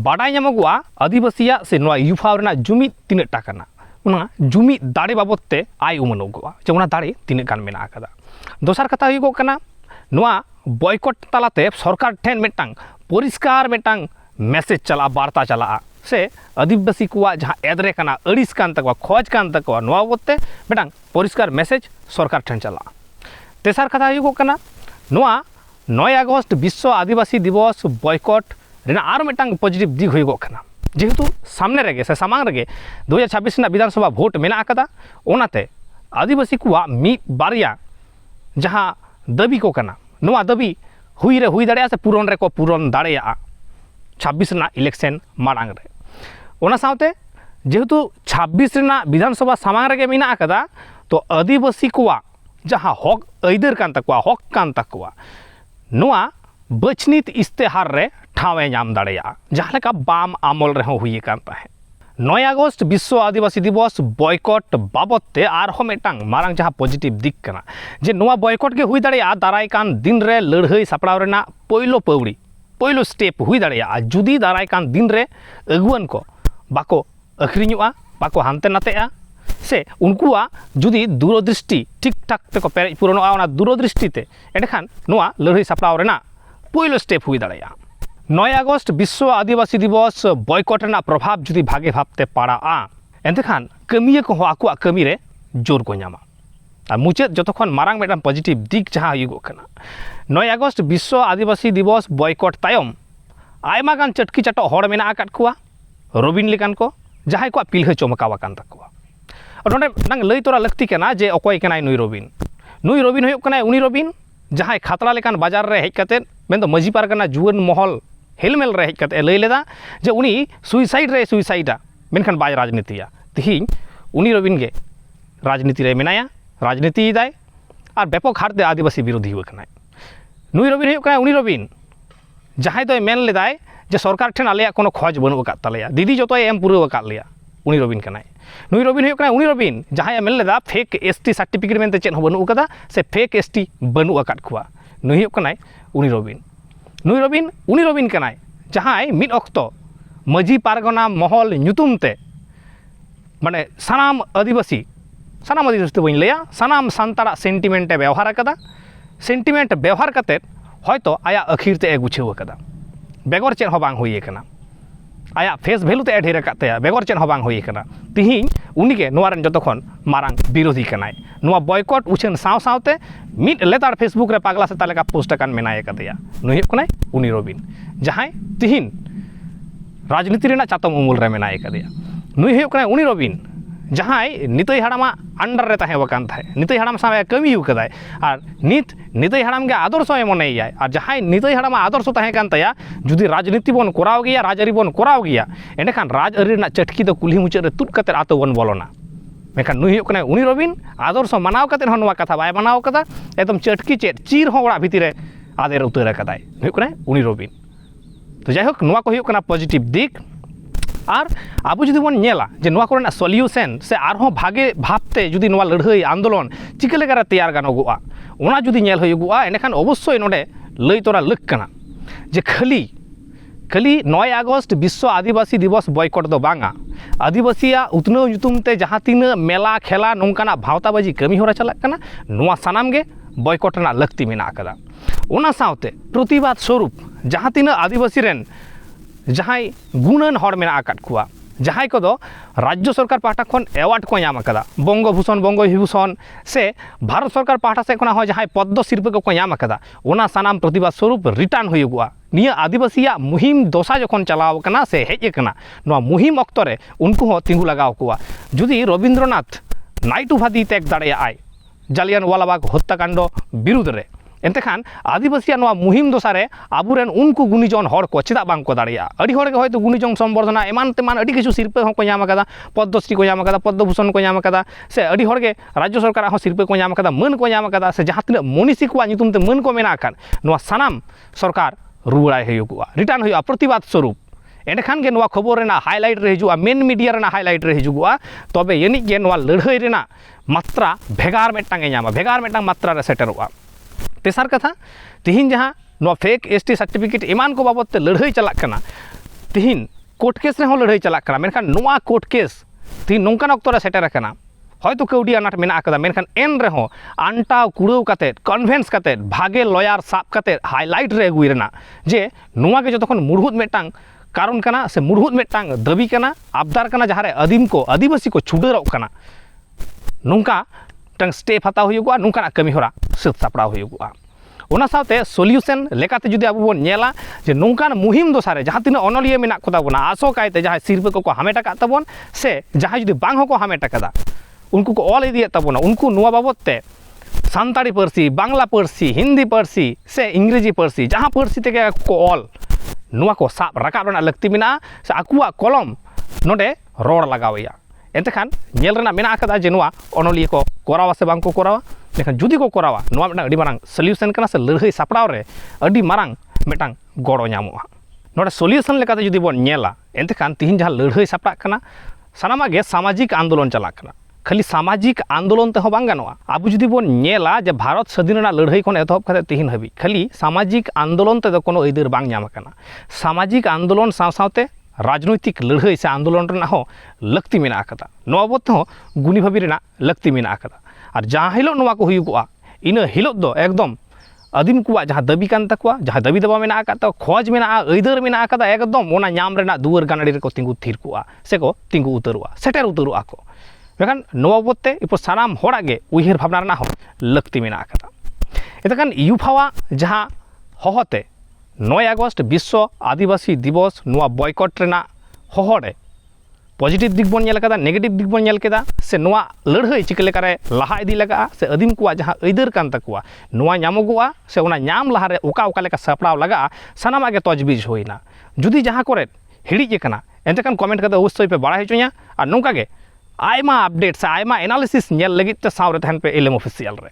[SPEAKER 1] ᱵᱟᱰᱟᱭ ᱧᱟᱢᱚᱜᱚᱜᱼᱟ ᱟᱹᱫᱤᱵᱟᱹᱥᱤᱭᱟᱜ ᱥᱮ ᱱᱚᱣᱟ ᱤᱭᱩᱯᱷᱟᱣ ᱨᱮᱱᱟᱜ ᱡᱩᱢᱤᱫ ᱛᱤᱱᱟᱹᱜ ᱴᱟ ᱠᱟᱱᱟ ᱚᱱᱟ ᱡᱩᱢᱤᱫ ᱫᱟᱲᱮ ᱵᱟᱵᱚᱫ ᱛᱮ ᱟᱭ ᱩᱢᱟᱹᱱᱚᱜᱚᱜᱼᱟ ᱡᱮ ᱚᱱᱟ ᱫᱟᱲᱮ ᱛᱤᱱᱟᱹᱜ ᱜᱟᱱ ᱢᱮᱱᱟᱜ ᱟᱠᱟᱫᱟ ᱫᱚᱥᱟᱨ ᱠᱟᱛᱷᱟ ᱦᱩᱭᱩᱜᱚᱜ ᱠᱟᱱᱟ ᱱᱚᱣᱟ ᱵᱚᱭᱠᱚᱴ ᱛᱟᱞᱟᱛᱮ ᱥᱚᱨᱠᱟᱨ ᱴᱷᱮᱱ ᱢᱤᱫᱴᱟᱝ ᱯᱚᱨᱤষ্ᱠᱟᱨ ᱢᱤᱫᱴᱟᱝ ᱢᱮᱥᱮᱡᱽ ᱪᱟᱞᱟᱜᱼᱟ ᱵᱟᱨᱛᱟ ᱪᱟᱞᱟᱜᱼᱟ ᱥᱮ ᱟᱹᱫᱤᱵᱟᱹᱥᱤ ᱠᱚᱣᱟᱜ ᱡᱟᱦᱟᱸ ᱮᱫᱽᱨᱮ ᱠᱟᱱᱟ ᱟᱹᱲᱤᱥ ᱠᱟᱱ ᱛᱟᱠᱚᱣᱟ ᱠᱷᱚᱡᱽ ᱠᱟᱱ ᱛᱟᱠᱚᱣᱟ ᱱᱚᱣᱟ ᱵᱟᱵᱚᱫ ᱛᱮ ᱢᱤᱫᱴᱟᱝ ᱯᱚᱨᱤᱥᱠᱟᱨ ᱢᱮᱥᱮᱡᱽ ᱥᱚᱨᱠᱟᱨ ᱴᱷᱮᱱ ᱪᱟᱞᱟᱜᱼᱟ ᱛᱮᱥᱟᱨ ᱠᱟᱛᱷᱟ ᱦᱩᱭᱩᱜᱚᱜ ᱠᱟᱱᱟ ᱱᱚᱣᱟ ᱱᱚᱭ ᱟᱜᱚᱥᱴ ᱵᱤᱥᱥᱚ ᱟᱹᱫᱤᱵᱟᱹᱥᱤ ᱫᱤᱵᱚᱥ ᱵᱚᱭᱠᱚᱴ ᱨᱮᱱᱟᱜ ᱟᱨ ᱢᱤᱫᱴᱟᱝ ᱯᱚᱡᱤᱴᱤᱵᱷ ᱫᱤᱠ ᱦᱩᱭᱩᱜᱚᱜ ᱠᱟᱱᱟ ᱡᱮᱦᱮᱛᱩ ᱥᱟᱢᱱᱮ ᱨᱮᱜᱮ ᱥᱮ ᱥᱟᱢᱟᱝ ᱨᱮᱜᱮ ᱫᱩ ᱦᱟᱡᱟᱨ ᱪᱷᱟᱵᱵᱤᱥ ᱨᱮᱱᱟᱜ ᱵᱤᱫᱷᱟᱱ ᱥᱚᱵᱷᱟ ᱵᱷᱳᱴ ᱢᱮᱱᱟᱜ ᱟᱠᱟᱫᱟ ᱚᱱᱟᱛᱮ ᱟᱹᱫᱤᱵᱟᱹᱥᱤ ᱠᱚᱣᱟᱜ ᱢᱤᱫ ᱵᱟᱨᱭᱟ ᱡᱟᱦᱟᱸ ᱫᱟᱹᱵᱤ ᱠᱚ ᱠᱟᱱᱟ ᱱᱚᱣᱟ ᱫᱟᱹᱵᱤ ᱦᱩᱭ ᱨᱮ ᱦᱩᱭ ᱫᱟᱲᱮᱭᱟᱜᱼᱟ ᱥᱮ ᱯᱩᱨᱚᱱ ᱨᱮᱠᱚ ᱯᱩᱨᱚᱱ ᱫᱟᱲᱮᱭᱟᱜᱼᱟ ᱪᱷᱟᱵᱽᱵᱤᱥ ᱨᱮᱱᱟᱜ ᱤᱞᱮᱠᱥᱮᱱ ᱢᱟᱲᱟᱝ ᱨᱮ ᱚᱱᱟ ᱥᱟᱶᱛᱮ ᱡᱮᱦᱮᱛᱩ ᱪᱷᱟᱵᱽᱵᱤᱥ ᱨᱮᱱᱟᱜ ᱵᱤᱫᱷᱟᱱ ᱥᱚᱵᱷᱟ ᱥᱟᱢᱟᱝ ᱨᱮᱜᱮ ᱢᱮᱱᱟᱜ ᱟᱠᱟᱫᱟ ᱛᱚ ᱟᱹᱫᱤᱵᱟᱹᱥᱤ ᱠᱚᱣᱟᱜ ᱡᱟᱦᱟᱸ ᱦᱚᱸᱠ ᱟᱹᱭᱫᱟᱹᱨ ᱠᱟᱱ ᱛᱟᱠᱚᱣᱟ ᱦᱚᱸᱠ ᱠᱟᱱ ᱛᱟᱠᱚᱣᱟ ᱱᱚᱣᱟ ᱵᱟᱹᱪᱷᱱᱤᱛ ᱤᱥᱛᱮᱦᱟᱨ ᱨᱮ ᱴᱷᱟᱶ ᱮ ᱧᱟᱢ ᱫᱟᱲᱮᱭᱟᱜᱼᱟ ᱡᱟᱦᱟᱸ ᱞᱮᱠᱟ ᱵᱟᱢ ᱟᱢᱚᱞ ᱨᱮᱦᱚᱸ ᱦᱩᱭ ᱟᱠᱟᱱ ᱛᱟᱦᱮᱸᱫ ᱱᱚᱭ ᱟᱜᱚᱥᱴ ᱵᱤᱥᱥᱚ ᱟᱹᱫᱤᱵᱟᱹᱥᱤ ᱫᱤᱵᱚᱥ ᱵᱚᱭᱠᱚᱴ ᱵᱟᱵᱚᱛ ᱛᱮ ᱟᱨᱦᱚᱸ ᱢᱤᱫᱴᱟᱝ ᱢᱟᱨᱟᱝ ᱡᱟᱦᱟᱸ ᱯᱚᱡᱤᱴᱤᱵᱷ ᱫᱤᱠ ᱠᱟᱱᱟ ᱡᱮ ᱱᱚᱣᱟ ᱵᱚᱭᱠᱚᱴ ᱜᱮ ᱦᱩᱭ ᱫᱟᱲᱮᱭᱟᱜᱼᱟ ᱫᱟᱨᱟᱭ ᱠᱟᱱ ᱫᱤᱱ ᱨᱮ ᱞᱟᱹᱲᱦᱟᱹᱭ ᱥᱟᱯᱲᱟᱣ ᱨᱮᱱᱟᱜ ᱯᱳᱭᱞᱳ ᱯᱟᱹᱣᱲᱤ ᱯᱳᱭᱞᱳ ᱥᱴᱮᱯ ᱦᱩᱭ ᱫᱟᱲᱮᱭᱟᱜᱼᱟ ᱡᱩᱫᱤ ᱫᱟᱨᱟᱭ ᱠᱟᱱ ᱫᱤᱱ ᱨᱮ ᱟᱹᱜᱩᱣᱟᱹᱱ ᱠᱚ ᱵᱟᱠᱚ ᱟᱹᱠᱷᱨᱤᱧᱚᱜᱼᱟ ᱵᱟᱠᱚ ᱦᱟᱱᱛᱮ ᱱᱟᱛᱮᱜᱼᱟ ᱥᱮ ᱩᱱᱠᱩᱣᱟᱜ ᱡᱩᱫᱤ ᱫᱩᱨᱚᱫᱨᱤᱥᱴᱤ ᱴᱷᱤᱠ ᱴᱷᱟᱠ ᱛᱮᱠᱚ ᱯᱮᱨᱮᱡ ᱯᱩᱨᱚᱱᱚᱜᱼᱟ ᱚᱱᱟ ᱫᱩᱨᱚᱫᱨᱤᱥᱴᱤ ᱛᱮ ᱮᱸᱰᱮᱠᱷᱟᱱ ᱱᱚᱣᱟ ᱞᱟᱹᱲᱦᱟᱹᱭ ᱥᱟᱯᱲᱟᱣ ᱨᱮᱱᱟᱜ ᱯᱩᱭᱞᱩ ᱥᱴᱮᱯ ᱦᱩᱭ ᱫᱟᱲᱮᱭᱟᱜᱼᱟ ᱱᱚᱭ ᱟᱜᱚᱥᱴ ᱵᱤᱥᱥᱚ ᱟᱹᱫᱤᱵᱟᱹᱥᱤ ᱫᱤᱵᱚᱥ ᱵᱚᱭᱠᱚᱴ ᱨᱮᱱᱟᱜ ᱯᱨᱚᱵᱷᱟᱵᱽ ᱡᱩᱫᱤ ᱵᱷᱟᱜᱮ ᱵᱷᱟᱵᱛᱮ ᱯᱟᱲᱟᱜᱼᱟ ᱮᱸᱰᱮᱠᱷᱟᱱ ᱠᱟᱹᱢᱤᱭᱟᱹ ᱠᱚᱦᱚᱸ ᱟᱠᱚᱣᱟᱜ ᱠᱟᱹᱢᱤ ᱨᱮ ᱡᱳᱨ ᱠᱚ ᱧᱟᱢᱟ ᱟᱨ ᱢᱩᱪᱟᱹᱫ ᱡᱚᱛᱚ ᱠᱷᱚᱱ ᱢᱟᱨᱟᱝ ᱢᱤᱫᱴᱟᱝ ᱯᱚᱡᱤᱴᱤᱵᱷ ᱫᱤᱠ ᱡᱟᱦᱟᱸ ᱦᱩᱭᱩᱜᱚᱜ ᱠᱟᱱᱟ ᱱᱚᱭ ᱟᱜᱚᱥᱴ ᱵᱤᱥᱥᱚ ᱟᱹᱫᱤᱵᱟᱹᱥᱤ ᱫᱤᱵᱚᱥ ᱵᱚᱭᱠᱚᱴ ᱛᱟᱭᱚᱢ ᱟᱭᱢᱟ ᱜᱟᱱ ᱪᱟᱹᱴᱠᱤ ᱪᱟᱴᱚᱜ ᱦᱚᱲ ᱢᱮᱱᱟᱜ ᱟᱠᱟᱫ ᱠᱚᱣᱟ ᱨᱚᱵᱤᱱ ᱞᱮᱠᱟᱱ ᱠᱚ ᱡᱟᱦᱟᱸᱭ ᱠᱚᱣᱟᱜ ᱯᱤᱞᱦᱟᱹ ᱪᱚᱢᱠᱟᱣ ᱟᱠᱟᱱ ᱛᱟᱠᱚᱣᱟ ᱱᱚᱰᱮ ᱢᱤᱫᱴᱟᱝ ᱞᱟᱹᱭ ᱛᱚᱨᱟ ᱞᱟᱹᱠᱛᱤ ᱠᱟᱱᱟ ᱡᱮ ᱚᱠᱚᱭ ᱠᱟᱱᱟᱭ ᱱᱩᱭ ᱨᱚᱵᱤᱱ ᱱᱩᱭ ᱨᱚᱵᱤᱱ ᱦᱩᱭᱩᱜ ᱠᱟᱱᱟᱭ ᱩᱱᱤ ᱨᱚᱵᱤᱱ ᱡᱟᱦᱟᱸᱭ ᱠᱷᱟᱛᱲᱟ ᱞᱮᱠᱟᱱ ᱵᱟᱡᱟᱨ ᱨᱮ ᱦᱮᱡ ᱠᱟᱛᱮᱫ ᱢᱮᱱᱫᱚ ᱢᱟᱹᱡᱷᱤ ᱯᱟᱨᱜᱟᱱᱟ ᱡᱩᱣᱟᱹᱱ ᱢᱚᱦᱚᱞ ᱦᱮᱞᱢᱮᱞ ᱨᱮ ᱦᱮᱡ ᱠᱟᱛᱮᱫ ᱮ ᱞᱟᱹᱭ ᱞᱮᱫᱟ ᱡᱮ ᱩᱱᱤ ᱥᱩᱭᱥᱟᱭᱤᱰ ᱨᱮ ᱥᱩᱭᱥᱟᱭᱤᱰᱟ ᱢᱮᱱᱠᱷᱟᱱ ᱵᱟᱭ ᱨᱟᱡᱽᱱᱤᱛᱤᱭᱟ ᱛᱤᱦᱤᱧ ᱩᱱᱤ ᱨᱚᱵᱤᱱ ᱜᱮ ᱨᱟᱡᱽᱱᱤᱛᱤ ᱨᱮ ᱢᱮᱱᱟᱭᱟ ᱨᱟᱡᱽᱱᱤᱛᱤᱭᱮᱫᱟᱭ ᱟᱨ ᱵᱮᱯᱚᱠ ᱦᱟᱨᱛᱮ ᱟᱹᱫᱤᱵᱟᱹᱥᱤ ᱵᱤᱨᱳᱫᱷᱤ ᱟᱠᱟᱱᱟᱭ ᱱᱩᱭ ᱨᱚᱵᱤᱱ ᱦᱩᱭᱩᱜ ᱠᱟᱱᱟᱭ ᱩᱱᱤ ᱨᱚᱵᱤᱱ ᱡᱟᱦᱟᱸᱭ ᱫᱚᱭ ᱢᱮᱱ ᱞᱮᱫᱟᱭ ᱡᱮ ᱥᱚᱨᱠᱟᱨ ᱴᱷᱮᱱ ᱟᱞᱮᱭᱟᱜ ᱠᱳᱱᱳ ᱠᱷᱚᱡᱽ ᱵᱟᱹᱱᱩᱜ ᱟᱠᱟᱫ ᱛᱟᱞᱮᱭᱟ ᱫᱤᱫᱤ ᱡᱚᱛᱚᱭ ᱮᱢ ᱯᱩᱨᱟᱹᱣ ᱟᱠᱟᱫ ᱞᱮᱭᱟ ᱩᱱᱤ ᱨᱚᱵᱤᱱ ᱠᱟᱱᱟᱭ ᱱᱩᱭ ᱨᱚᱵᱤᱱ ᱦᱩᱭᱩᱜ ᱠᱟᱱᱟᱭ ᱩᱱᱤ ᱨᱚᱵᱤᱱ ᱡᱟᱦᱟᱸᱭ ᱢᱮᱱ ᱞᱮᱫᱟ ᱯᱷᱮᱠ ᱮᱥ ᱴᱤ ᱥᱟᱨᱴᱤᱯᱷᱤᱠᱮᱴ ᱢᱮᱱᱛᱮ ᱪᱮᱫ ᱦᱚᱸ ᱵᱟᱹᱱᱩᱜ ᱟᱠᱟᱫᱟ ᱥᱮ ᱯᱷᱮᱠ ᱮᱥ ᱴᱤ ᱵᱟᱹᱱᱩᱜ ᱟᱠᱟᱫ ᱠᱚᱣᱟ ᱱᱩᱭ ᱦᱩᱭᱩᱜ ᱠᱟᱱᱟᱭ ᱩᱱᱤ ᱨᱚᱵᱤᱱ ᱱᱩᱭ ᱨᱚᱵᱤᱱ ᱩᱱᱤ ᱨᱚᱵᱤᱱ ᱠᱟᱱᱟᱭ ᱡᱟᱦᱟᱸᱭ ᱢᱤᱫ ᱚᱠᱛᱚ ᱢᱟᱹᱡᱷᱤ ᱯᱟᱨᱜᱟᱱᱟ ᱢᱚᱦᱚᱞ ᱧᱩᱛᱩᱢ ᱛᱮ ᱢᱟᱱᱮ ᱥᱟᱱᱟᱢ ᱟᱹᱫᱤᱵᱟᱹᱥᱤ ᱥᱟᱱᱟᱢ ᱟᱹᱫᱤᱵᱟᱹᱥᱤ ᱫᱚ ᱵᱟᱹᱧ ᱞᱟᱹᱭᱟ ᱥᱟᱱᱟᱢ ᱥᱟᱱᱛᱟᱲᱟᱜ ᱥᱮᱱᱴᱤᱢᱮᱱᱴ ᱮ ᱵᱮᱣᱦᱟᱨ ᱠᱟᱫᱟ ᱥᱮᱱᱴᱤᱢᱮᱱᱴ ᱵᱮᱣᱦᱟᱨ ᱠᱟᱛᱮ ᱦᱚᱭᱛᱳ ᱟᱭᱟᱜ ᱟᱹᱠᱷᱤᱨ ᱛᱮᱜ ᱮ ᱜᱩᱪᱷᱟᱹᱣ ᱠᱟᱫᱟ ᱵᱮᱜᱚᱨ ᱪᱮᱫ ᱦᱚᱸ ᱵᱟᱝ ᱦᱩᱭ ᱠᱟᱱᱟ ᱟᱭᱟᱜ ᱯᱷᱮᱥ ᱵᱷᱮᱞᱩ ᱛᱮᱜ ᱮ ᱰᱷᱮᱨ ᱠᱟᱜ ᱛᱟᱭᱟ ᱵᱮᱜᱚᱨ ᱪᱮᱫ ᱦᱚᱸ ᱵᱟᱝ ᱦᱩᱭ ᱠᱟᱱᱟ ᱛᱮᱦᱮᱧ ᱩᱱᱤᱜᱮ ᱱᱚᱣᱟ ᱨᱮᱱ ᱡᱚᱛᱚ ᱠᱷᱚᱱ ᱢᱟᱨᱟᱝ ᱵᱤᱨᱳᱫᱷᱤ ᱠᱟᱱᱟᱭ ᱱᱚᱣᱟ ᱵᱚᱭᱠᱚᱴ ᱩᱪᱷᱟᱹᱱ ᱥᱟᱶ ᱥᱟᱶᱛᱮ ᱢᱤᱫ ᱞᱮᱛᱟᱲ ᱯᱷᱮᱥᱵᱩᱠ ᱨᱮ ᱯᱟᱜᱽᱞᱟ ᱥᱮᱛᱟ ᱞᱮᱠᱟ ᱯᱳᱥᱴ ᱟᱠᱟᱱ ᱢᱮᱱᱟᱭ ᱠᱟᱫᱮᱭᱟ ᱱᱩᱭ ᱦᱩᱭᱩᱜ ᱠᱟᱱᱟᱭ ᱩᱱᱤ ᱨᱚᱵᱤᱱ ᱡᱟᱦᱟᱸᱭ ᱛᱮᱦᱮᱧ ᱨᱟᱡᱽᱱᱤᱛᱤ ᱨᱮᱱᱟᱜ ᱪᱟᱛᱚᱢ ᱩᱢᱩᱞ ᱨᱮ ᱢᱮᱱᱟᱭ ᱠᱟᱫᱮᱭᱟ ᱱᱩᱭ ᱦᱩᱭᱩᱜ ᱠᱟᱱᱟᱭ ᱩᱱᱤ ᱨᱚᱵᱤᱱ ᱡᱟᱦᱟᱸᱭ ᱱᱤᱛᱟᱹᱭ ᱦᱟᱲᱟᱢᱟᱜ ᱟᱱᱰᱟᱨ ᱨᱮ ᱛᱟᱦᱮᱸ ᱠᱟᱱ ᱛᱟᱦᱮᱸᱫ ᱱᱤᱛᱟᱹᱭ ᱦᱟᱲᱟᱢ ᱥᱟᱶ ᱮ ᱠᱟᱹᱢᱤ ᱠᱟᱫᱟᱭ ᱟᱨ ᱱᱤᱛ ᱱᱤᱛᱟᱹᱭ ᱦᱟᱲᱟᱢ ᱜᱮ ᱟᱫᱚᱨᱥᱚᱭ ᱢᱚᱱᱮᱭᱮᱭᱟᱭ ᱟᱨ ᱡᱟᱦᱟᱸᱭ ᱱᱤᱛᱟᱹᱭ ᱦᱟᱲᱟᱢᱟᱜ ᱟᱫᱚᱨᱥᱚ ᱛᱟᱦᱮᱸ ᱠᱟᱱ ᱛᱟᱭᱟ ᱡᱩᱫᱤ ᱨᱟᱡᱽᱱᱤᱛᱤ ᱵᱚᱱ ᱠᱚᱨᱟᱣ ᱜᱮᱭᱟ ᱨᱟᱡᱽᱟᱹᱨᱤ ᱵᱚᱱ ᱠᱚᱨᱟᱣ ᱜᱮᱭᱟ ᱮᱸᱰᱮᱠᱷᱟᱱ ᱨᱟᱡᱽᱟᱹᱨᱤ ᱨᱮᱱᱟᱜ ᱪᱟᱹᱴᱠᱤ ᱫᱚ ᱠᱩᱞᱦᱤ ᱢᱩᱪᱟᱹᱫ ᱨᱮ ᱛᱩᱫ ᱠᱟᱛᱮᱫ ᱟᱛᱳ ᱵᱚᱱ ᱵᱚᱞᱚᱱᱟ ᱢᱮᱱᱠᱷᱟᱱ ᱱᱩᱭ ᱦᱩᱭᱩᱜ ᱠᱟᱱᱟᱭ ᱩᱱᱤ ᱨᱚᱵᱤᱱ ᱟᱫᱚᱨᱥᱚ ᱢᱟᱱᱟᱣ ᱠᱟᱛᱮᱫ ᱦᱚᱸ ᱱᱚᱣᱟ ᱠᱟᱛᱷᱟ ᱵᱟᱭ ᱢᱟᱱᱟᱣ ᱠᱟᱫᱟ ᱮᱠᱫᱚᱢ ᱪᱟᱹᱴᱠᱤ ᱪᱮᱫ ᱪᱤᱨ ᱦᱚᱸ ᱚᱲᱟᱜ ᱵᱷᱤᱛᱤᱨ ᱨᱮ ᱟᱫᱮᱨ ᱩᱛᱟᱹᱨ ᱠᱟᱫᱟᱭ ᱦᱩᱭᱩᱜ ᱠᱟᱱᱟᱭ ᱩᱱᱤ ᱨᱚᱵᱤᱱ ᱛᱚ ᱡᱟᱭᱦᱳᱠ ᱱᱚᱣᱟ ᱠᱚ ᱦᱩᱭᱩᱜ ᱠᱟᱱᱟ ᱯᱚᱡᱤᱴᱤᱵᱽ ᱫᱤᱠ ᱟᱨ ᱟᱵᱚ ᱡᱩᱫᱤ ᱵᱚᱱ ᱧᱮᱞᱟ ᱡᱮ ᱱᱚᱣᱟ ᱠᱚᱨᱮᱱᱟᱜ ᱥᱚᱞᱤᱭᱩᱥᱮᱱ ᱥᱮ ᱟᱨᱦᱚᱸ ᱵᱷᱟᱜᱮ ᱵᱷᱟᱵᱽᱛᱮ ᱡᱩᱫᱤ ᱱᱚᱣᱟ ᱞᱟᱹᱲᱦᱟᱹᱭ ᱟᱱᱫᱳᱞᱚᱱ ᱪᱤᱠᱟᱹ ᱞᱮᱠᱟᱨᱮ ᱛᱮᱭᱟᱨ ᱜᱟᱱᱚᱜᱚᱜᱼᱟ ᱚᱱᱟ ᱡᱩᱫᱤ ᱧᱮᱞ ᱦᱩᱭᱩᱜᱚᱜᱼᱟ ᱮᱸᱰᱮᱠᱷᱟᱱ ᱚᱵᱚᱥᱥᱳᱭ ᱱᱚᱰᱮ ᱞᱟᱹᱭ ᱛᱚᱨᱟ ᱞᱟᱹᱠ ᱠᱟᱱᱟ ᱡᱮ ᱠᱷᱟᱹᱞᱤ ᱠᱷᱟᱹᱞᱤ ᱱᱚᱭ ᱟᱜᱚᱥᱴ ᱵᱤᱥᱥᱚ ᱟᱹᱫᱤᱵᱟᱹᱥᱤ ᱫᱤᱵᱚᱥ ᱵᱚᱭᱠᱚᱴ ᱫᱚ ᱵᱟᱝᱟ ᱟᱹᱫᱤᱵᱟᱹᱥᱤᱭᱟᱜ ᱩᱛᱱᱟᱹᱣ ᱧᱩᱛᱩᱢ ᱛᱮ ᱡᱟᱦᱟᱸ ᱛᱤᱱᱟᱹᱜ ᱢᱮᱞᱟ ᱠᱷᱮᱞᱟ ᱱᱚᱝᱠᱟᱱᱟᱜ ᱵᱷᱟᱶᱛᱟᱵᱟᱹᱡᱤ ᱠᱟᱹᱢᱤ ᱦᱚᱨᱟ ᱪᱟᱞᱟᱜ ᱠᱟᱱᱟ ᱱᱚᱣᱟ ᱥᱟᱱᱟᱢ ᱜᱮ ᱵᱚᱭᱠᱚᱴ ᱨᱮᱱᱟᱜ ᱞᱟᱹᱠᱛᱤ ᱢᱮᱱᱟᱜ ᱟᱠᱟᱫᱟ ᱚᱱᱟ ᱥᱟᱶᱛᱮ ᱯᱨᱚᱛᱤᱵᱟᱫᱽ ᱥᱚᱨᱩᱯ ᱡᱟᱦᱟᱸ ᱛᱤᱱᱟᱹᱜ ᱟᱹᱫᱤᱵᱟᱹᱥᱤ ᱨᱮᱱ ᱡᱟᱦᱟᱸᱭ ᱜᱩᱱᱟᱹᱱ ᱦᱚᱲ ᱢᱮᱱᱟᱜ ᱟᱠᱟᱫ ᱠᱚᱣᱟ ᱡᱟᱦᱟᱸᱭ ᱠᱚᱫᱚ ᱨᱟᱡᱽᱡᱚ ᱥᱚᱨᱠᱟᱨ ᱯᱟᱦᱴᱟ ᱠᱷᱚᱱ ᱮᱣᱟᱨᱰ ᱠᱚ ᱧᱟᱢ ᱠᱟᱫᱟ ᱵᱚᱝᱜᱚ ᱵᱷᱩᱥᱚᱱ ᱵᱚᱝᱜᱚ ᱵᱤᱵᱷᱩᱥᱚᱱ ᱥᱮ ᱵᱷᱟᱨᱚᱛ ᱥᱚᱨᱠᱟᱨ ᱯᱟᱦᱴᱟ ᱥᱮᱫ ᱠᱷᱚᱱᱟᱜ ᱦᱚᱸ ᱡᱟᱦᱟᱸᱭ ᱯᱚᱫᱽᱫᱚ ᱥᱤᱨᱯᱟᱹ ᱠᱚᱠᱚ ᱧᱟᱢ ᱠᱟᱫᱟ ᱚᱱᱟ ᱥᱟᱱᱟᱢ ᱯᱨᱚᱛᱤᱵᱟᱫᱽ ᱥᱚᱨᱩᱯ ᱨᱤᱴᱟᱨᱱ ᱦᱩᱭᱩᱜᱚᱜᱼᱟ ᱱᱤᱭᱟᱹ ᱟᱹᱫᱤᱵᱟᱹᱥᱤᱭᱟᱜ ᱢᱩᱦᱤᱢ ᱫᱚᱥᱟ ᱡᱚᱠᱷᱚᱱ ᱪᱟᱞᱟᱣ ᱠᱟᱱᱟ ᱥᱮ ᱦᱮᱡ ᱠᱟᱱᱟ ᱱᱚᱣᱟ ᱢᱩᱦᱤᱢ ᱚᱠᱛᱚ ᱨᱮ ᱩᱱᱠᱩ ᱦᱚᱸ ᱛᱤᱸᱜᱩ ᱞᱟᱜᱟᱣ ᱠᱚᱣᱟ ᱡᱩᱫᱤ ᱨᱚᱵᱤᱱᱫᱨᱚᱱᱟᱛᱷ ᱱᱟᱭᱤᱴ ᱩᱯᱟᱫᱷᱤ ᱛᱮᱜ ᱫᱟᱲᱮᱭᱟᱜᱼᱟᱭ ᱡᱟᱞᱤᱭᱟᱱ ᱣᱟᱞᱟᱵᱟᱜᱽ ᱦᱚᱛᱛᱟᱠᱟᱱᱰᱚ ᱵᱤᱨᱩᱫᱽ ᱨᱮ ᱮᱱᱛᱮ ᱠᱷᱟᱱ ᱟᱹᱫᱤᱵᱟᱹᱥᱤᱭᱟᱜ ᱱᱚᱣᱟ ᱢᱩᱦᱤᱢ ᱫᱚᱥᱟ ᱨᱮ ᱟᱵᱚ ᱨᱮᱱ ᱩᱱᱠᱩ ᱜᱩᱱᱤᱡᱚᱱ ᱦᱚᱲ ᱠᱚ ᱪᱮᱫᱟᱜ ᱵᱟᱝ ᱠᱚ ᱫᱟᱲᱮᱭᱟᱜᱼᱟ ᱟᱹᱰᱤ ᱦᱚᱲ ᱜᱮ ᱦᱚᱭᱛᱳ ᱜᱩᱱᱤᱡᱚᱱ ᱥᱚᱢᱵᱚᱨᱫᱷᱚᱱᱟ ᱮᱢᱟᱱ ᱛᱮᱢᱟᱱ ᱟᱹᱰᱤ ᱠᱤᱪᱷᱩ ᱥᱤᱨᱯᱟᱹ ᱦᱚᱸᱠᱚ ᱧᱟᱢ ᱟᱠᱟᱫᱟ ᱯᱚᱫᱽᱫᱚᱥᱨᱤ ᱠᱚ ᱧᱟᱢ ᱟᱠᱟᱫᱟ ᱯᱚᱫᱽᱫᱚ ᱵᱷᱩᱥᱚᱱ ᱠᱚ ᱧᱟᱢ ᱟᱠᱟᱫᱟ ᱥᱮ ᱟᱹᱰᱤ ᱦᱚᱲ ᱜᱮ ᱨᱟᱡᱽᱡᱚ ᱥᱚᱨᱠᱟᱨᱟᱜ ᱦᱚᱸ ᱥᱤᱨᱯᱟᱹ ᱠᱚ ᱧᱟᱢ ᱟᱠᱟᱫᱟ ᱢᱟᱹᱱ ᱠᱚ ᱧᱟᱢ ᱟᱠᱟᱫᱟ ᱥᱮ ᱡᱟᱦᱟᱸ ᱛᱤᱱᱟᱹᱜ ᱢᱚᱱᱤᱥᱤ ᱠᱚᱣᱟᱜ ᱧᱩᱛᱩᱢ ᱛᱮ ᱢᱟᱹᱱ ᱠᱚ ᱢᱮᱱᱟᱜ ᱟᱠᱟᱫ ᱱᱚᱣᱟ ᱥᱟᱱᱟᱢ ᱥᱚᱨᱠᱟᱨ ᱨᱩᱣᱟᱹᱲᱟᱭ ᱦᱩᱭᱩᱜᱚᱜᱼᱟ ᱨᱤᱴᱟᱨᱱ ᱦᱩᱭᱩᱜᱼᱟ ᱯᱨᱚᱛᱤᱵᱟᱫᱽ ᱥᱚᱨᱩᱯ ᱮᱸᱰᱮᱠᱷᱟᱱ ᱜᱮ ᱱᱚᱣᱟ ᱠᱷᱚᱵᱚᱨ ᱨᱮᱱᱟᱜ ᱦᱟᱭᱞᱟᱭᱤᱴ ᱨᱮ ᱦᱤᱡᱩᱜᱼᱟ ᱢᱮᱱ ᱢᱤᱰᱤᱭᱟ ᱨᱮᱱᱟᱜ ᱦᱟᱭᱞᱟᱭᱤᱴ ᱨᱮ ᱦᱤᱡᱩᱜᱚᱜᱼᱟ ᱛᱚᱵᱮ ᱟᱹᱱᱤᱡ ᱜᱮ ᱱᱚᱣᱟ ᱞᱟᱹᱲᱦᱟᱹᱭ ᱨᱮᱱᱟᱜ ᱢᱟᱛᱨᱟ ᱵᱷᱮᱜᱟᱨ ᱢᱤᱫᱴᱟᱝ ᱮ ᱧᱟᱢᱟ ᱵᱷᱮᱜᱟᱨ ᱢᱤᱫᱴᱟᱝ ᱢᱟᱛᱨᱟ ᱨᱮ ᱥᱮᱴᱮᱨᱚᱜᱼᱟ ᱛᱮᱥᱟᱨ ᱠᱟᱛᱷᱟ ᱛᱤᱦᱤᱧ ᱡᱟᱦᱟᱸ ᱱᱚᱣᱟ ᱯᱷᱮᱠ ᱮᱥ ᱴᱤ ᱥᱟᱨᱴᱤᱯᱷᱤᱠᱮᱴ ᱮᱢᱟᱱ ᱠᱚ ᱵᱟᱵᱚᱫ ᱛᱮ ᱞᱟᱹᱲᱦᱟᱹᱭ ᱪᱟᱞᱟᱜ ᱠᱟᱱᱟ ᱛᱤᱦᱤᱧ ᱠᱳᱨᱴ ᱠᱮᱥ ᱨᱮᱦᱚᱸ ᱞᱟᱹᱲᱦᱟᱹᱭ ᱪᱟᱞᱟᱜ ᱠᱟᱱᱟ ᱢᱮᱱᱠᱷᱟᱱ ᱱᱚᱣᱟ ᱠᱳᱨᱴ ᱠᱮᱥ ᱛᱤᱦᱤᱧ ᱱᱚᱝᱠᱟᱱ ᱚᱠᱛᱚ ᱨᱮ ᱥᱮᱴᱮᱨ ᱟᱠᱟᱱᱟ ᱦᱚᱭᱛᱳ ᱠᱟᱹᱣᱰᱤ ᱟᱱᱟᱴ ᱢᱮᱱᱟᱜ ᱟᱠᱟᱫᱟ ᱢᱮᱱᱠᱷᱟᱱ ᱮᱱ ᱨᱮᱦᱚᱸ ᱟᱱᱴᱟᱣ ᱠᱩᱲᱟᱹᱣ ᱠᱟᱛᱮᱫ ᱠᱚᱱᱵᱷᱮᱱᱥ ᱠᱟᱛᱮᱫ ᱵᱷᱟᱜᱮ ᱞᱚᱭᱟᱨ ᱥᱟᱵ ᱠᱟᱛᱮᱫ ᱦᱟᱭᱞᱟᱭᱤᱴ ᱨᱮ ᱟᱹᱜᱩᱭ ᱨᱮᱱᱟᱜ ᱡᱮ ᱱᱚᱣᱟ ᱜᱮ ᱡᱚᱛᱚ ᱠᱷᱚᱱ ᱢᱩᱬᱩᱛ ᱢᱤᱫᱴᱟᱝ ᱠᱟᱨᱚᱱ ᱠᱟᱱᱟ ᱥᱮ ᱢᱩᱲᱦᱩᱫ ᱢᱤᱫᱴᱟᱝ ᱫᱟᱹᱵᱤ ᱠᱟᱱᱟ ᱟᱵᱫᱟᱨ ᱠᱟᱱᱟ ᱡᱟᱦᱟᱸ ᱨᱮ ᱟᱹᱫᱤᱢ ᱠᱚ ᱟᱹᱫᱤᱵᱟᱹᱥᱤ ᱠᱚ ᱪᱷᱩᱰᱟᱹᱨᱚᱜ ᱠᱟᱱᱟ ᱱᱚᱝᱠᱟ ᱢᱤᱫᱴᱟᱝ ᱥᱴᱮᱯ ᱦᱟᱛᱟᱣ ᱦᱩᱭᱩᱜᱚᱜᱼᱟ ᱱᱚᱝᱠᱟᱱᱟᱜ ᱠᱟᱹᱢᱤ ᱦᱚᱨᱟ ᱥᱟᱹᱛ ᱥᱟᱯᱲᱟᱣ ᱦᱩᱭᱩᱜᱚᱜᱼᱟ ᱚᱱᱟ ᱥᱟᱶᱛᱮ ᱥᱚᱞᱤᱭᱩᱥᱚᱱ ᱞᱮᱠᱟᱛᱮ ᱡᱩᱫᱤ ᱟᱵᱚ ᱵᱚᱱ ᱧᱮᱞᱟ ᱡᱮ ᱱᱚᱝᱠᱟᱱ ᱢᱩᱦᱤᱢ ᱫᱚᱥᱟ ᱨᱮ ᱡᱟᱦᱟᱸ ᱛᱤᱱᱟᱹᱜ ᱚᱱᱚᱞᱤᱭᱟᱹ ᱢᱮᱱᱟᱜ ᱠᱚᱛᱟ ᱵᱚᱱᱟ ᱟᱥᱚᱠᱟᱭᱛᱮ ᱡᱟᱦᱟᱸᱭ ᱥᱤᱨᱯᱟᱹ ᱠᱚᱠᱚ ᱦᱟᱢᱮᱴ ᱟᱠᱟᱫ ᱛᱟᱵᱚᱱ ᱥᱮ ᱡᱟᱦᱟᱸᱭ ᱡᱩᱫᱤ ᱵᱟᱝ ᱦᱚᱸᱠᱚ ᱦᱟᱢᱮᱴ ᱟᱠᱟᱫᱟ ᱩᱱᱠᱩ ᱠᱚ ᱚᱞ ᱤᱫᱤᱭᱮᱫ ᱛᱟᱵᱚᱱᱟ ᱩᱱᱠᱩ ᱱᱚᱣᱟ ᱵᱟᱵᱚᱫ ᱛᱮ ᱥᱟᱱᱛᱟᱲᱤ ᱯᱟᱹᱨᱥᱤ ᱵᱟᱝᱞᱟ ᱯᱟᱹᱨᱥᱤ ᱦᱤᱱᱫᱤ ᱯᱟᱹᱨᱥᱤ ᱥᱮ ᱤᱝᱨᱮᱡᱤ ᱯᱟᱹᱨᱥᱤ ᱡᱟᱦᱟᱸ ᱯᱟᱹᱨᱥᱤ ᱛᱮᱜᱮ ᱟᱠᱚ ᱠᱚ ᱚᱞ ᱱᱚᱣᱟ ᱠᱚ ᱥᱟᱵ ᱨᱟᱠᱟᱵ ᱨᱮᱱᱟᱜ ᱞᱟᱹᱠᱛᱤ ᱢᱮᱱᱟᱜᱼᱟ ᱥᱮ ᱟᱠᱚᱣᱟᱜ ᱠᱚᱞᱚᱢ ᱱᱚᱰᱮ ᱨᱚᱲ ᱞᱟᱜᱟᱣ ᱮᱭᱟ ᱮᱱᱛᱮᱠᱷᱟᱱ ᱧᱮᱞ ᱨᱮᱱᱟᱜ ᱢᱮᱱᱟᱜ ᱟᱠᱟᱫᱟ ᱡᱮ ᱱᱚᱣᱟ ᱚᱱᱚᱞᱤᱭᱟᱹ ᱠᱚ ᱠᱚᱨᱟᱣᱟ ᱥᱮ ᱵᱟᱝ ᱠᱚ ᱠᱚᱨᱟᱣᱟ ᱢᱮᱱᱠᱷᱟᱱ ᱡᱩᱫᱤ ᱠᱚ ᱠᱚᱨᱟᱣᱟ ᱱᱚᱣᱟ ᱢᱤᱫᱴᱟᱝ ᱟᱹᱰᱤ ᱢᱟᱨᱟᱝ ᱥᱚᱞᱤᱭᱩᱥᱚᱱ ᱠᱟᱱᱟ ᱥᱮ ᱞᱟᱹᱲᱦᱟᱹᱭ ᱥᱟᱯᱲᱟᱣ ᱨᱮ ᱟᱹᱰᱤ ᱢᱟᱨᱟᱝ ᱢᱤᱫᱴᱟᱝ ᱜᱚᱲᱚ ᱧᱟᱢᱚᱜᱼᱟ ᱱᱚᱰᱮ ᱥᱚᱞᱤᱭᱩᱥᱚᱱ ᱞᱮᱠᱟᱛᱮ ᱡᱩᱫᱤ ᱵᱚᱱ ᱧᱮᱞᱟ ᱮᱱᱛᱮᱠᱷᱟᱱ ᱛᱤᱦᱤᱧ ᱡᱟᱦᱟᱸ ᱞᱟᱹᱲᱦᱟᱹᱭ ᱥᱟᱯᱲᱟᱜ ᱠᱟᱱᱟ ᱥᱟᱱᱟᱢᱟᱜ ᱜᱮ ᱥᱟᱢᱟᱡᱤᱠ ᱟᱱᱫᱳᱞᱚᱱ ᱪᱟᱞᱟᱜ ᱠᱟᱱᱟ ᱠᱷᱟᱹᱞᱤ ᱥᱟᱢᱟᱡᱤᱠ ᱟᱱᱫᱳᱞᱚᱱ ᱛᱮᱦᱚᱸ ᱵᱟᱝ ᱜᱟᱱᱚᱜᱼᱟ ᱟᱵᱚ ᱡᱩᱫᱤ ᱵᱚᱱ ᱧᱮᱞᱟ ᱡᱮ ᱵᱷᱟᱨᱚᱛ ᱥᱟᱹᱫᱷᱤᱱ ᱨᱮᱱᱟᱜ ᱞᱟᱹᱲᱦᱟᱹᱭ ᱠᱷᱚᱱ ᱮᱛᱚᱦᱚᱵ ᱠᱟᱛᱮ ᱛᱤᱦᱤᱧ ᱦᱟᱹᱵᱤᱡ ᱠᱷᱟᱹᱞᱤ ᱥᱟᱢᱟᱡᱤᱠ ᱟᱱᱫᱳᱞᱚᱱ ᱛᱮᱫᱚ ᱠᱳᱱᱳ ᱟᱹᱭᱫᱟᱹᱨ ᱵᱟᱝ ᱧᱟᱢ ᱟᱠᱟᱱᱟ ᱥᱟᱢᱟᱡᱤᱠ ᱟᱱᱫᱳᱞᱚᱱ ᱥᱟᱶ ᱥᱟᱶᱛᱮ ᱨᱟᱡᱽᱱᱳᱭᱛᱤᱠ ᱞᱟᱹᱲᱦᱟᱹᱭ ᱥᱮ ᱟᱱᱫᱳᱞᱚᱱ ᱨᱮᱱᱟᱜ ᱦᱚᱸ ᱞᱟᱹᱠᱛᱤ ᱢᱮᱱᱟᱜ ᱟᱠᱟᱫᱟ ᱱᱚᱣᱟ ᱵᱟᱵᱚᱫ ᱛᱮᱦᱚᱸ ᱜᱩᱱᱤ ᱵᱷᱟᱹᱵᱤ ᱨᱮᱱᱟᱜ ᱞᱟᱹᱠᱛᱤ ᱢᱮᱱᱟᱜ ᱟᱠᱟᱫᱟ ᱟᱨ ᱡᱟᱦᱟᱸ ᱦᱤᱞᱳᱜ ᱱᱚᱣᱟ ᱠᱚ ᱦᱩᱭᱩᱜᱚᱜᱼᱟ ᱤᱱᱟᱹ ᱦᱤᱞᱳᱜ ᱫᱚ ᱮᱠᱫᱚᱢ ᱟᱹᱫᱤᱢ ᱠᱚᱣᱟᱜ ᱡᱟᱦᱟᱸ ᱫᱟᱹᱵᱤ ᱠᱟᱱ ᱛᱟᱠᱚᱣᱟ ᱡᱟᱦᱟᱸ ᱫᱟᱹᱵᱤ ᱫᱟᱵᱟ ᱢᱮᱱᱟᱜ ᱟᱠᱟᱫ ᱛᱟᱠᱚᱣᱟ ᱠᱷᱚᱡᱽ ᱢᱮᱱᱟᱜᱼᱟ ᱟᱹᱭᱫᱟᱹᱨ ᱢᱮᱱᱟᱜ ᱟᱠᱟᱫᱟ ᱮᱠᱫᱚᱢ ᱚᱱᱟ ᱧᱟᱢ ᱨᱮᱱᱟᱜ ᱫᱩᱣᱟᱹᱨ ᱜᱟᱱᱟᱰᱤ ᱨᱮᱠᱚ ᱛᱤᱸᱜᱩ ᱛᱷᱤᱨ ᱠᱚᱜᱼᱟ ᱥᱮᱠᱚ ᱛᱤᱸᱜᱩ ᱩᱛᱟᱹᱨᱚᱜᱼᱟ ᱥᱮᱴᱮᱨ ᱩᱛᱟᱹᱨᱚᱜᱼᱟ ᱠᱚ ᱢᱮᱱᱠᱷᱟᱱ ᱱᱚᱣᱟ ᱵᱟᱵᱚᱫ ᱛᱮ ᱮᱨᱯᱚᱨ ᱥᱟᱱᱟᱢ ᱦᱚᱲᱟᱜ ᱜᱮ ᱩᱭᱦᱟᱹᱨ ᱵᱷᱟᱵᱽᱱᱟ ᱨᱮᱱᱟᱜ ᱦᱚᱸ ᱞᱟᱹᱠᱛᱤ ᱢᱮᱱᱟᱜ ᱟᱠᱟᱫᱟ ᱮᱱᱠᱷᱟᱱ ᱤᱭᱩᱯᱷᱟᱣᱟᱜ ᱡᱟᱦᱟᱸ ᱦᱚᱦᱚᱛᱮ ᱱᱚᱭ ᱟᱜᱚᱥᱴ ᱵᱤᱥᱥᱚ ᱟᱹᱫᱤᱵᱟᱹᱥᱤ ᱫᱤᱵᱚᱥ ᱱᱚᱣᱟ ᱵᱚᱭᱠᱚᱴ ᱨᱮᱱᱟᱜ ᱦᱚᱦᱚᱨᱮ ᱯᱚᱡᱮᱴᱤᱵᱽ ᱫᱤᱠ ᱵᱚᱱ ᱧᱮᱞ ᱠᱟᱫᱟ ᱱᱮᱜᱮᱴᱤᱵᱽ ᱫᱤᱠ ᱵᱚᱱ ᱧᱮᱞ ᱠᱮᱫᱟ ᱥᱮ ᱱᱚᱣᱟ ᱞᱟᱹᱲᱦᱟᱹᱭ ᱪᱤᱠᱟᱹ ᱞᱮᱠᱟᱨᱮ ᱞᱟᱦᱟ ᱤᱫᱤ ᱞᱟᱜᱟᱜᱼᱟ ᱥᱮ ᱟᱹᱫᱤᱢ ᱠᱚᱣᱟᱜ ᱡᱟᱦᱟᱸ ᱟᱹᱭᱫᱟᱹᱨ ᱠᱟᱱ ᱛᱟᱠᱚᱣᱟ ᱱᱚᱣᱟ ᱧᱟᱢᱚᱜᱚᱜᱼᱟ ᱥᱮ ᱚᱱᱟ ᱧᱟᱢ ᱞᱟᱦᱟᱨᱮ ᱚᱠᱟ ᱚᱠᱟ ᱞᱮᱠᱟ ᱥᱟᱯᱲᱟᱣ ᱞᱟᱜᱟᱜᱼᱟ ᱥᱟᱱᱟᱢᱟᱜ ᱜᱮ ᱛᱚᱡᱽᱵᱤᱡᱽ ᱦᱩᱭᱱᱟ ᱡᱩᱫᱤ ᱡᱟᱦᱟᱸ ᱠᱚᱨᱮᱜ ᱦᱤᱲᱤᱡ ᱟᱠᱟᱱᱟ ᱮᱱᱰᱮᱠᱷᱟᱱ ᱠᱚᱢᱮᱱᱴ ᱠᱟᱛᱮᱜ ᱚᱵᱚᱥᱥᱳᱭ ᱯᱮ ᱵᱟᱲᱟᱭ ᱦᱚᱪᱚᱧᱟ ᱟᱨ ᱱᱚᱝᱠᱟᱜᱮ ᱟᱭᱢᱟ ᱟᱯᱰᱮᱴ ᱥᱮ ᱟᱭᱢᱟ ᱮᱱᱟᱞᱤᱥᱤᱥ ᱧᱮᱞ ᱞᱟᱹᱜᱤᱫ ᱛᱮ ᱥᱟᱶᱨᱮ ᱛᱟᱦᱮᱱ ᱯᱮ ᱮᱞ ᱮᱢ ᱚᱯᱷᱤᱥᱤᱭᱟᱞ ᱨᱮ